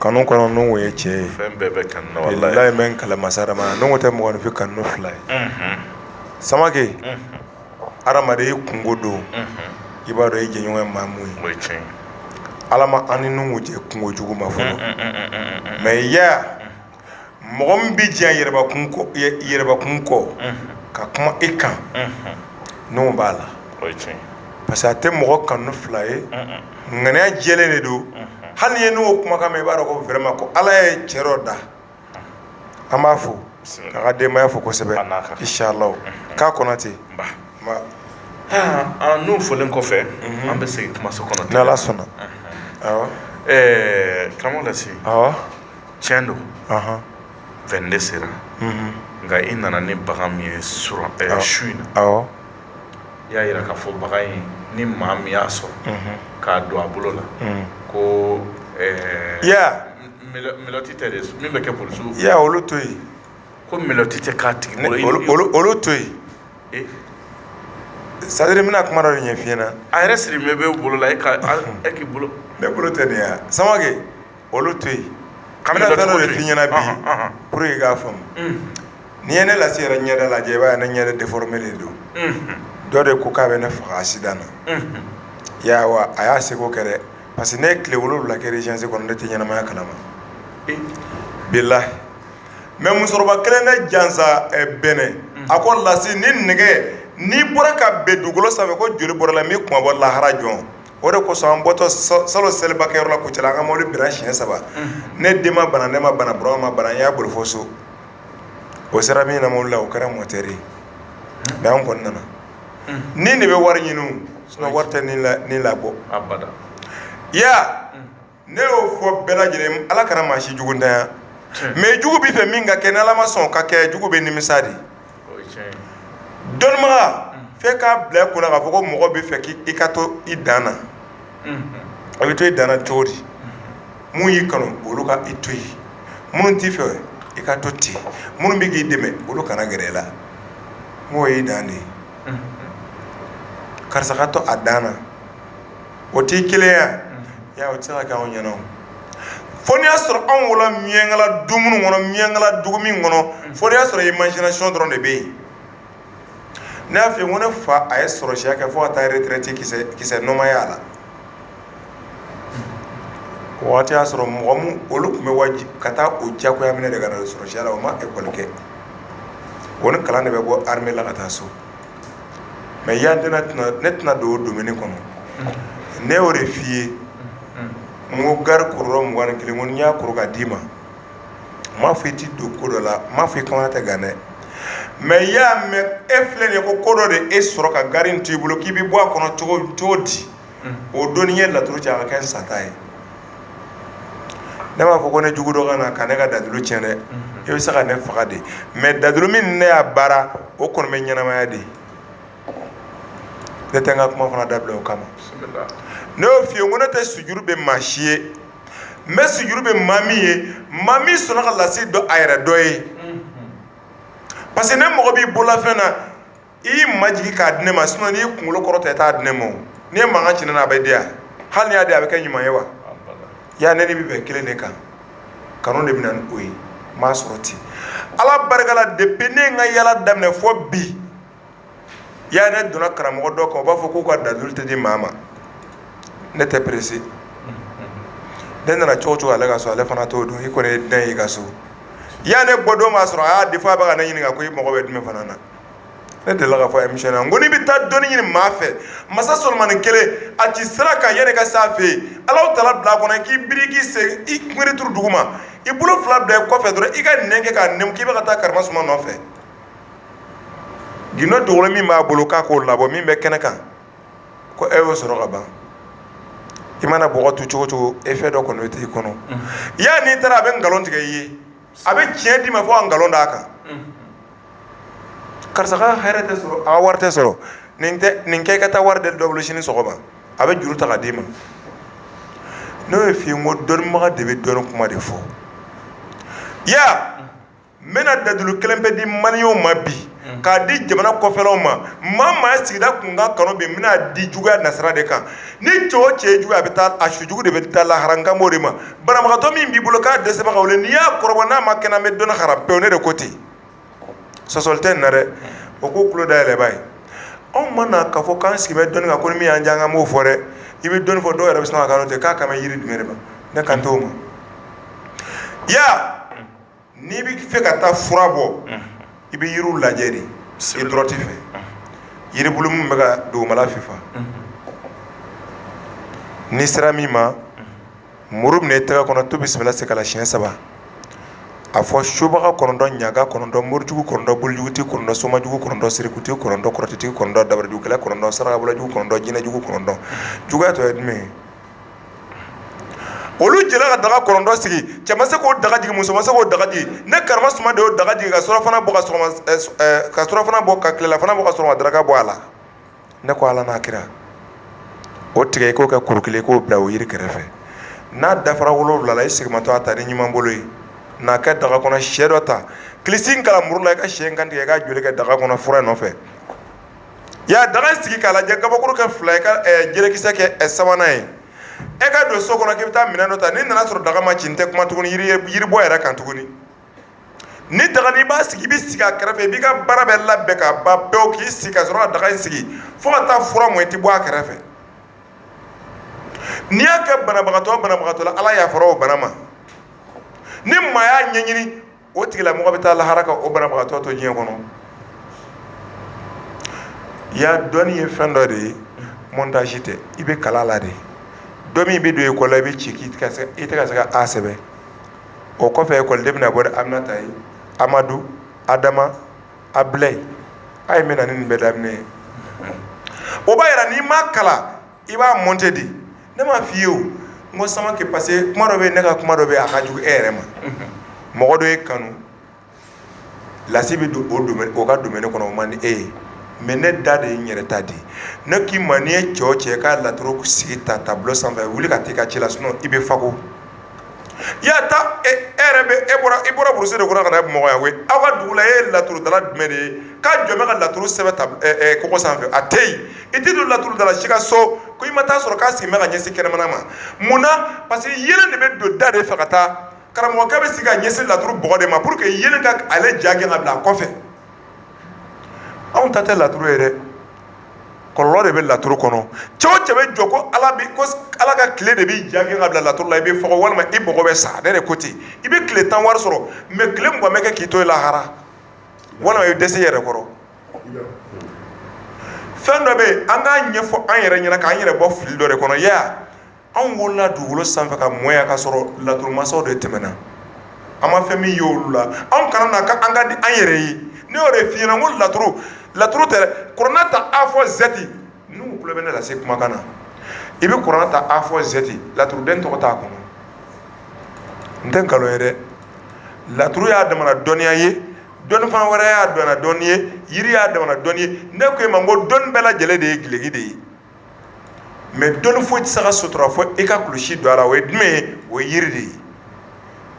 Kanu kɔnɔ nuhu ye cɛ ye fɛn bɛɛ bɛ kanu na mɛ n kali masa ala ma nuhu tɛ mɔgɔninfin kanu fila ye samake adamaden i kunko don i b'a dɔn i jɛɲɔgɔn ye maa mun ye ala ma an ni nuhu cɛ kunko juguma fɔlɔ mɛ ya mɔgɔ min bɛ diɲɛ yɛrɛbakun kɔ ka kuma e kan nuhu b'a la parce que a tɛ mɔgɔ kanu fila ye ŋaniya jɛlen de don hali i ye nuhu kumakan mɛn i b'a dɔn ko vraiment ko ala ye cɛ dɔ da an b'a fo k'a ka denbaya fo kosɛbɛ inshallah k'a kɔnɔ ten nuhu folen kɔfɛ an bɛ segin kumaso kɔnɔ ni ala sɔnna karamɔgɔ tiɲɛ don vingt-deux sera nka i nana ni bagan min ye su in na i y'a jira k'a fɔ bagan in ni maa min y'a sɔrɔ k'a don a bolo la ko menotte tɛ de min bɛ kɛ bolo olu to yen ko menotte tɛ k'a tigi bolo olu to yen c'est-à-dire n bɛna kuma dɔ de ɲɛf'i ɲɛna a yɛrɛ sirilen bɛ bolo la e e k'i bolo ne bolo tɛ nin yan Samakɛ olu to yen n bɛna fɛn dɔ de f'i ɲɛna bi pour que i k'a faamu n'i ye ne Lasi yɛrɛ ɲɛda lajɛ i b'a ye ne ɲɛda déformé de don dɔ de ko k'a bɛ ne faga accident na i y'a ye wa a y'a seko kɛ dɛ parce que ne ye tile wolonwula kɛ urgence kɔnɔ ne tɛ ɲɛnamaya kalama bilahi mais musokɔrɔba kelen de jansa Bɛnɛ a ko Lasi ni nɛgɛ nin bɔra ka bin dugukolo sanfɛ ko joli bɔra la min kunmabɔ lahara jɔn o de kosɔn an bɔtɔ salon selibakɛyɔrɔ la Kucala an ka mobili binna siɲɛ saba, unhun, ne den ma bana ne ma bana Burama ma bana n y'a boli fo so, o sera min na mobili la o kɛra mɔtɛri ye mais an kɔni nana, unhun, ni de bɛ wari ɲini o sinon wari tɛ ni labɔ, abada, i y'a ye wa ne y'o fɔ bɛɛ lajɛlen ala kana maa si juguntanya mais jugu b'i fɛ min ka kɛ ni ala ma sɔn ka kɛ jugu bɛ nimisa de dɔnnibaga fɛ k'a bila i kunna k'a fɔ ko mɔgɔ b'i fɛ k'i ka to i dan na i bɛ to i dan na cogo di minnu y'i kanu olu ka i to yen minnu t'i fɛ i ka to ten minnu bɛ k'i dɛmɛ olu kana gɛrɛ i la mɔgɔ y'i dan de ye karisa ka to a dan na o tɛ keleya ye o tɛ se ka kɛ anw ɲɛna fo n'i y'a sɔrɔ anw wolola miyankala du minnu kɔnɔ miyankala dugu min kɔnɔ fo n'i y'a sɔrɔ imagination dɔrɔn de bɛ yen ne y'a fɔ ko ne fa a ye sɔrɔsiya kɛ fo ka taa retraite kisɛ nɔ ma ye a la o waati y'a sɔrɔ mɔgɔ min olu tun bɛ wajibi ka taa o jagoya minɛ de ka na sɔrɔsiya la o ma ekɔli kɛ o ni kalan de bɛ bɔ armée la ka taa so mais ya ne tɛna don o domaine kɔnɔ ne y'o de f'i ye n ko gari kuruyɔrɔ mugan ni kelen ko n y'a kuru ka d'i ma n m'a fɔ i tɛ don ko dɔ la n m'a fɔ i kamana tɛ gan dɛ mais i y'a mɛn e filɛ nin ye ko ko dɔ de e sɔrɔ ka gari in to i bolo k'i bɛ bɔ a kɔnɔ cogo di o don n'i ye laturu cɛ a ka kɛ n sata ye ne b'a fɔ ko ne jugu dɔ ka na ka ne ka dalilu cɛn dɛ e bɛ se ka ne faga de mais dalilu min ne y'a baara o kɔni bɛ ɲɛnamaya de ne tɛ n ka kuma fana dabila o kama ne y'o f'i ye ko ne tɛ sujuru bɛ maa si ye n bɛ sujuru bɛ maa min ye maa min sɔnna ka Lasi dɔn a yɛrɛ dɔ ye parce que ne mɔgɔ b'i bololafɛn na i y'i majigin k'a di ne ma sinon n'i y'i kunkolo kɔrɔta i t'a di ne ma o n'i ye mankan ci ne na a bɛ di yan hali n'i y'a di a bɛ kɛ ɲuman ye wa yaa ne ni bɛɛ bɛn kelen de kan kanu de bɛ na ni o ye n m'a sɔrɔ ten Ala barika la depuis ne ye n ka yaala daminɛ fo bi yaa ne donna karamɔgɔ dɔ kan u b'a fɔ k'u ka dalilu tɛ di maa ma ne tɛ pressé ne nana cogo o cogo ale ka so ale fana t'o dɔn i kɔni ye den y'i ka so yaa ne bɔdon b'a sɔrɔ a y'a di f'a bɛ ka ne ɲininka ko i mago bɛ jumɛn fana na ne delila k'a fɔ émission na n ko n'i bɛ taa dɔnni ɲini maa fɛ masa solomani kelen a ci sira kan yanni ka s'a fɛ yen ala taala bila kɔnɔ k'i biri k'i se i kunbiri turu dugu ma i bolo fila bila kɔfɛ dɔrɔn i ka nɛn kɛ k'a nɛmu k'i bɛ ka taa karamɔ suma nɔfɛ gundo dogolen min b'a bolo k'a k'o labɔ min bɛ kɛnɛ kan ko e y'o sɔrɔ ka ban i mana bɔgɔ tu cogo cogo e fɛn dɔ kɔni bɛ t'i kɔnɔ yaa n'i taara a bɛ nkalon tigɛ i ye a bɛ tiɲɛ d'i ma fo ka nkalon d'a kan karisa ka hɛrɛ tɛ sɔrɔ a ka wari tɛ sɔrɔ nin kɛ ka taa wari deli dɔ bolo sini sɔgɔma a bɛ juru ta k'a d'i ma n'o ye f'i ye n ko dɔnnibaga de bɛ dɔnni kuma de fɔ ya n bɛna dalilu kelen pe di maliyɛnw ma bi k'a di jamana kɔfɛlaw ma maa o maa sigida tun ka kanu bi n bɛn'a di juguya nasira de kan ni cɛ o cɛ ye juguya a bɛ taa a su jugu de bɛ taa lahara n kan b'o de ma banabagatɔ min b'i bolo k'a dɛsɛbaga o la n'i y'a kɔrɔbɔ n'a ma kɛnɛya n bɛ dɔnni haramu pewu ne de ko ten sɔsɔli tɛ nin na dɛ aw k'aw tulo dayɛlɛ bani anw ma na k'a fɔ k'an sigi bɛ dɔnni kan ko ni min y'an diya an b'o fɔ dɛ i bɛ dɔnni fɔ dɔw yɛrɛ bɛ sɔn ka k'a la ten k'a kan bɛ yiri jumɛn de ma ne kan t'o ma ya n'i bɛ fɛ ka taa fura bɔ i bɛ yiriw lajɛ de i dɔrɔn t'i fɛ yiribulu min bɛ ka dugumala fifa n'i sera min ma muru minɛ i tɛgɛ kɔnɔ to bisimila segala siyɛn saba a fɔ subaga kɔnɔntɔn ɲagan kɔnɔntɔn morijugu kɔnɔntɔn bolijugutigi kɔnɔntɔn somajugu kɔnɔntɔn sirikutigi kɔnɔntɔn kɔrɔtɛtigi kɔnɔntɔn dabarijugukɛla kɔnɔntɔn sarakabɔlajugu kɔnɔntɔn jinɛjugu kɔnɔntɔn juguya tɔ ye jumɛn ye olu jɛla ka daga kɔnɔntɔn sigi cɛ ma se k'o daga jigin muso ma se k'o daga jigin ne karamɔ suma de y'o daga jigin ka surɔfana bɔ ka tilelafana bɔ ka sɔrɔ ka daraka bɔ a la ne ko ala n'a kira o tigɛ i k'o kɛ kuru kelen k'o bila o yiri kɛrɛfɛ n'a dafara wolonwula la i segimatɔ a ta ni ɲuman bolo ye n'a kɛ daga kɔnɔ sɛ dɔ ta kilisi kalan muru la i ka sɛ in kantigɛ i ka joli kɛ daga kɔnɔ fura nɔfɛ ya daga sigi k'a lajɛ kabakuru kɛ fila i ka jelekisɛ kɛ a sabanan ye e ka don so kɔnɔ k'i bɛ taa minɛn dɔ ta n'i nana sɔrɔ daga ma ci n tɛ kuma tuguni yiribɔ yɛrɛ kan tuguni ni daga n'i b'a sigi i bɛ sigi a kɛrɛfɛ i b'i ka baara bɛɛ labɛn ka ban pewu k'i sigi ka sɔrɔ ka daga in sigi fo ka taa fura mɔ i tɛ bɔ a kɛrɛfɛ n'i y'a kɛ banabagatɔ banabagatɔ la ala yafara o bana ma ni maa y'a ɲɛɲini o tigila mɔgɔ bɛ taa lahara ka o banabagatɔ to diɲɛ kɔnɔ ya dɔnni ye fɛn dɔ de ye montage tɛ i bɛ kala la de don min i bɛ don école la i bɛ ci i tɛ se ka a sɛbɛn o kɔfɛ école den bɛna bɔ aminata ye amadu adama abilayi a ye min na ni nin bɛɛ daminɛ ye o b'a yira n'i ma kalan i b'a monter di ne m'a f'i ye o n ko samakɛ parce que kuma dɔ bɛ ne ka kuma dɔ bɛ a ka jugu e yɛrɛ ma mɔgɔ dɔ ye kanu lasi bɛ don o ka domaine kɔnɔ o man di e ye mais ne da de ye n yɛrɛ ta di ne k'i ma n'i ye cɛ o cɛ ka laturu sigi ta tableau sanfɛ wuli ka taa i ka ci la sinon i bɛ fako i y'a ta e yɛrɛ bɛ e bɔra i bɔra brousse de kɔnɔ ka na Bamakɔ yan koyi, aw ka dugu la e ye laturudala jumɛn de ye k'a jɔ bɛ ka laturu sɛbɛn tab ɛ ɛ kogo sanfɛ a tɛ yen, i tɛ don laturudala si ka so ko i ma ta'a sɔrɔ k'a sigilen bɛ ka ɲɛsin kɛnɛmana ma, mun na parce que yeelen de bɛ don da de fɛ ka taa, karamɔgɔkɛ bɛ sigi ka ɲɛsin laturu bɔgɔ de ma pour que yeelen ka ale ja gɛn ka bila a kɔfɛ, anw ta tɛ laturu ye dɛ kɔlɔlɔ de bɛ laturu kɔnɔ cɛ o cɛ bɛ jɔ ko Ala bɛ ko Ala ka tile de b'i ja gɛn ka bila laturu la i bɛ fɔkɔ walima i mɔgɔ bɛ sa ne de ko ten i bɛ tile tan wari sɔrɔ mais tile mugan bɛ kɛ k'i to yen lahara walima i bɛ dɛsɛ i yɛrɛ kɔrɔ fɛn dɔ bɛ yen an k'a ɲɛfɔ an yɛrɛ ɲɛna k'an yɛrɛ bɔ fili dɔ de kɔnɔ ya anw wolola dugukolo sanfɛ ka mɔ yan ka sɔrɔ laturumasaw de tɛmɛna an ma fɛn min ye olu la anw kana na ka an ka di an yɛrɛ ye ne y'o de f'i ɲɛna n ko laturu laturu tɛ dɛ kurana ta a fɔ zɛti n'u tulo bɛ ne lase kumakan na i bɛ kurana ta a fɔ zɛti laturuden tɔgɔ t'a kɔnɔ n tɛ nkalon ye dɛ laturu y'a damana dɔnniya ye dɔnni fana wɛrɛ y'a damana dɔnni ye yiri y'a damana dɔnni ye ne ko e ma n ko dɔnni bɛɛ lajɛlen de ye gileki de ye mais dɔnni foyi tɛ se ka sutura fɔ e ka kulusi don a la o ye jumɛn ye o ye yiri de ye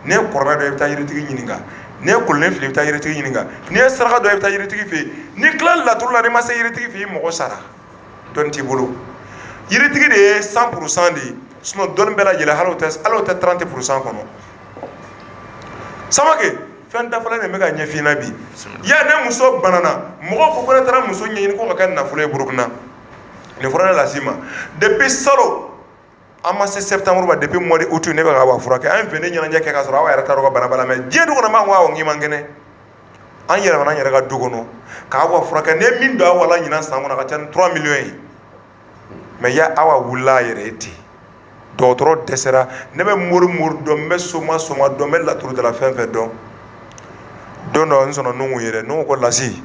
n'i ye kurana dɔn i bɛ taa yiritigi ɲininka n'i ye kolon fili i bɛ taa yiritigi ɲininka n'i ye saraka dɔn i bɛ taa yiritigi fɛ yen n'i tilala laturu la n'i ma se yiritigi fɛ i mɔgɔ sara dɔnni t'i bolo yiritigi de ye cent pour cent de ye dɔnni bɛɛ lajɛlen hali o tɛ trente pour cent kɔnɔ samakɛ fɛn dafalen de bɛ ka ɲɛf'i ɲɛna bi ya ne muso banana mɔgɔw ko n yɛrɛ taara muso ɲɛɲini ko ka kɛ nafolo ye burukina nin fɔra ne lase ma depuis salon an ma se septembre ma depuis mois d'août ne bɛ ka awa furakɛ an fini ɲɛnajɛ kɛ ka sɔrɔ awa yɛrɛ t'a dɔn ka bana b'a la mais diɲɛ dɔgɔ ma ko n'i man kɛnɛ an yɛlɛmana an yɛrɛ ka du kɔnɔ k'awa furakɛ ne min don awa la ɲinan san kɔnɔ ka ca ni trois millions ye mais ya awa wulila a yɛrɛ ye ten dɔgɔtɔrɔ dɛsɛra ne bɛ mori mori dɔn n bɛ soma soma dɔn n bɛ laturu dala fɛn fɛn dɔn don dɔ n sɔnna nuhu ye dɛ nuhu ko lasi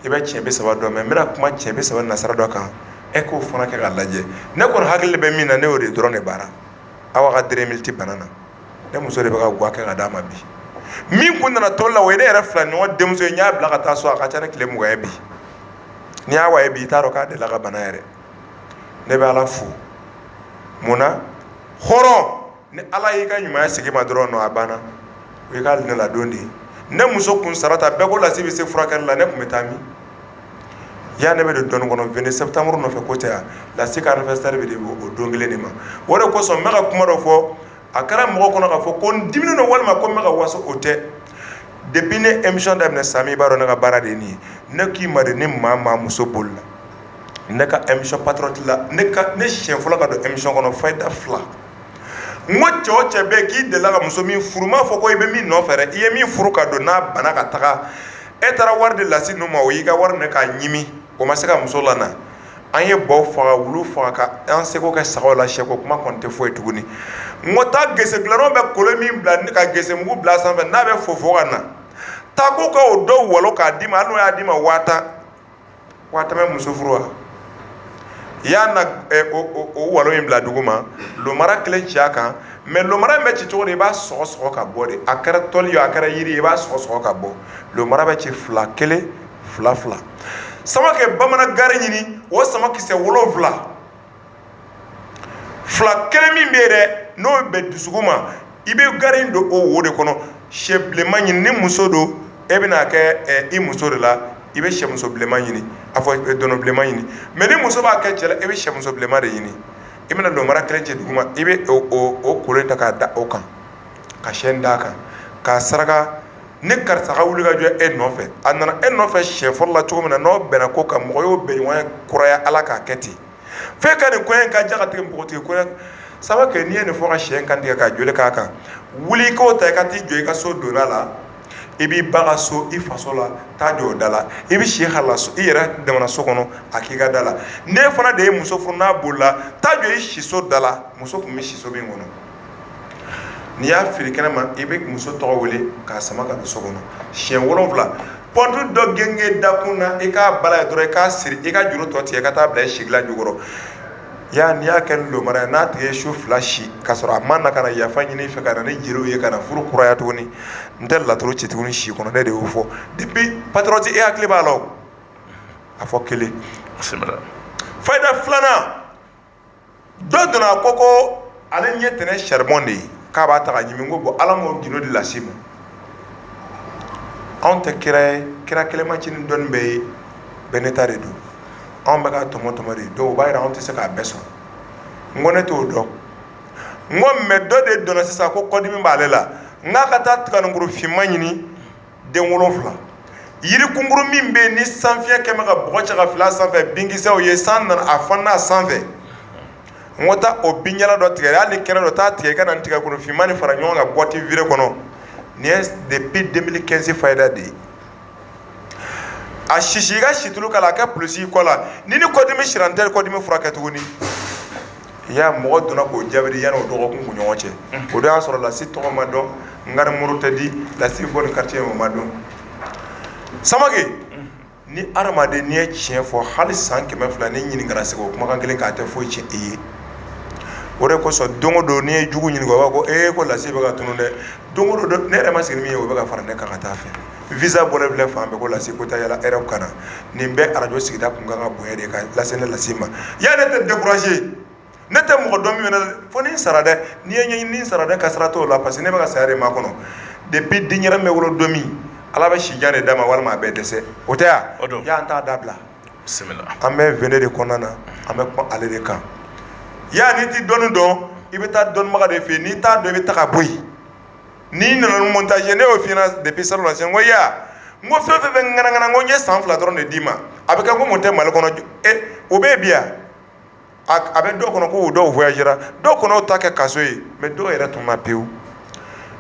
i bɛ cɛn bi saba dɔn mɛ n bɛna kuma cɛn bi saba nasira dɔ kan e k'o fana kɛ ka lajɛ ne kɔni hakili bɛ min na ne y'o de dɔrɔn de baara aw ka dre miti bana na ne muso de bɛ ka ga kɛ ka d'a ma bi min tun nana to la o ye ne yɛrɛ fila ɲɔgɔn denmuso in n y'a bila ka taa so a ka ca ne tile mugan ye bi n'i y'a wa ye bi i t'a dɔn k'a delila ka bana yɛrɛ ne bɛ ala fo munna hɔrɔn ni ala y'i ka ɲuman segin i ma dɔrɔn a banna o y'i ka ladon de ye ne muso kun sarata bɛɛ ko lasi bɛ se furakɛli la ne tun bɛ taa min yan ne bɛ de dɔn kɔnɔ vingt septembre nɔfɛ ko tɛ yan lasi ka anniversaire de o don kelen de ma o de kosɔn n bɛ ka kuma dɔ fɔ a kɛra mɔgɔ kɔnɔ k'a fɔ ko n diminen don walima ko n bɛ ka waso o tɛ depuis ne émission daminɛ sami i b'a dɔn ne ka baara de nin ye ne k'i ma ni maa maa muso bolila ne ka émission patriote la ne siyɛn fɔlɔ ka don émission kɔnɔ fayida fila n ko cɛ o cɛ bɛɛ k'i delila ka muso min furu m'a fɔ ko i bɛ min nɔfɛ i ye min furu ka don n'a banna ka taga e taara wari di lasi ninnu ma o y'i ka wari minɛ k'a ɲimi o ma se ka muso lana an ye baw faga wulu faga an seko kɛ sagaw la sɛko kuma tɛ fɔ ye tuguni n ko taa gese dala bɛ kolon min bila ka gese mugu bila sanfɛ n'a bɛ fofo ka na taa ko ka o dɔ walo k'a d'i ma n'o y'a d'i ma waa tan muso furu wa i y'a na o walo in bila dugu ma lomara kelen ci a kan mɛ lomara in bɛ ci cogo di i b'a sɔgɔ sɔgɔ ka bɔ de a kɛra tɔli ye a kɛra jiri ye i b'a sɔgɔ sɔgɔ ka bɔ lomara bɛ ci fila kelen fila fila samakɛ bamanan gari ɲini o samakisɛ wolonfila fila kelen min bɛ yen dɛ n'o bɛ dusukun ma i bɛ gari in don o wo de kɔnɔ sɛ bilenma ɲini ni muso don e bɛna a kɛ i muso de la i bɛ sɛmuso bilenma ɲini a fɔ dɔnɔ bilenma ɲini mɛ ni muso b'a kɛ cɛ la i bɛ sɛmuso bilenma de ɲini i bɛna lomara kelen ci dugu ma i bɛ o kolon ta k'a da o kan ka sɛ d'a kan k'a saraka ni karisa ka wuli ka jɔ e nɔfɛ a nana e nɔfɛ siyɛn fɔlɔ la cogo min na n'aw bɛnna ko kan mɔgɔ y'o bɛn ɲɔgɔn kɔrɔya ala k'a kɛ ten fo e ka nin kɔɲɔ in ka diya ka tɛmɛ npogotigi kɔɲɔ saba kan n'i ye nin fɔ ka sɛ kan tigɛ ka joli k'a kan wuli i k'o ta i ka t'i jɔ i ka so donna la i b'i ba ka so i faso la taa jɔ o da la i bɛ si hali i yɛrɛ damana so kɔnɔ a k'i ka da la n'e fana de ye muso furu n'a bolila taa jɔ i siso da la muso tun bɛ si so min kɔnɔ n'i y'a fili kɛnɛ ma i bɛ muso tɔgɔ wele k'a sama ka don so kɔnɔ siyɛn wolonwula pɔnti dɔ gengen dakun na i k'a bala yen dɔrɔn i k'a siri i ka juru tɔ tigɛ ka taa bila i sigila jukɔrɔ ya n'i y'a kɛ ni lomara ye n'a tigi ye su fila si k'a sɔrɔ a ma na ka na yafa ɲini i fɛ ka na ni jeliw ye ka na furu kuraya tuguni n tɛ laturu ci tuguni si kɔnɔ ne de y'o fɔ depuis patriote e hakili b'a la a fɔ kelen fayida filanan dɔ donna a ko ko ale ɲɛ tɛnɛ charbon de ye k'a b'a ta ka ɲimi n ko bon Ala m'o gindo di lasi ma anw tɛ kira ye kira kelen ma ci ni dɔnni bɛɛ ye bɛɛ n'i ta de don anw bɛ ka tɔmɔ tɔmɔ de dɔw b'a yira anw tɛ se k'a bɛɛ sɔrɔ n ko ne t'o dɔn n ko mais dɔ de donna sisan ko kɔdimi b'ale la n k'a ka taa tiganinkuru finman ɲini den wolonwula yirikunkurun min bɛ yen ni sanfiɲɛ kɛmɛ bɛ ka bɔgɔ cɛ ka fili a sanfɛ binkisɛw ye san nana a falenna a sanfɛ n ko taa o binjalan dɔ tigɛ hali ni kɛnɛ don taa tigɛ i ka na tigakuru finman ni fara ɲɔgɔn kan boîte vide kɔnɔ nin ye depuis deux mille quinze fayida de ye a sisi i ka situlu k'a la a kɛ pulusi i kɔ la ni ni kɔdimi sira n tɛ kɔdimi furakɛ tuguni ya mɔgɔ donna k'o jaabi di yanni o dɔgɔkun kun ɲɔgɔn cɛ o de y'a sɔrɔ lasi tɔgɔ ma dɔn n ka nimɔrɔ tɛ di lasi bɔ ni quartier o ma dɔn samake ni adamaden n'i ye tiɲɛ fɔ hali san kɛmɛ fila n'i ɲininkara segin o kumakan kelen kan a tɛ foyi tiɲɛ i ye o de kosɔn don o don n'i ye jugu ɲininka o b'a kɛ ko lasi bɛ ka tunun dɛ don o don ne yɛrɛ ma sigi ni min ye o bɛ ka fara ne kan ka taa fɛ visa bɔlen filɛ fan bɛɛ ko lasi ko taa yaala hɛrɛw kana nin bɛ arajo sigida tun kan ka bonya de ka lase ne lasi ma ya ne tɛ décourager ne tɛ mɔgɔ dɔn min fo ni n sara dɛ n'i ye ɲɛ ni sara dɛ ka sara tɔw la parce que ne bɛ ka saya de makɔnɔ depuis den yɛrɛ bɛ wolo don min ala bɛ si jan de d'a ma walima a bɛ dɛsɛ o tɛ yan ya an t'a dabila an bɛ v de kɔnɔna na an bɛ kuma ale de kan ya n'i tɛ dɔnni dɔn i bɛ taa dɔnnibaga de fɛ n'i t'a dɔn i bɛ taa ka bɔ yen n'i nana ni montage ye ne y'o f'i ye depuis salon lajɛ koya n ko fɛn o fɛn bɛ ŋanaŋana n ko n ye san fila dɔrɔn de d'i ma a bɛ kɛ komi u tɛ mali kɔnɔ ou bien ya a bɛ dɔw kɔnɔ ko dɔw voyagera dɔw kɔnɔ o ta kɛ kaso ye mais dɔw yɛrɛ tununna pewu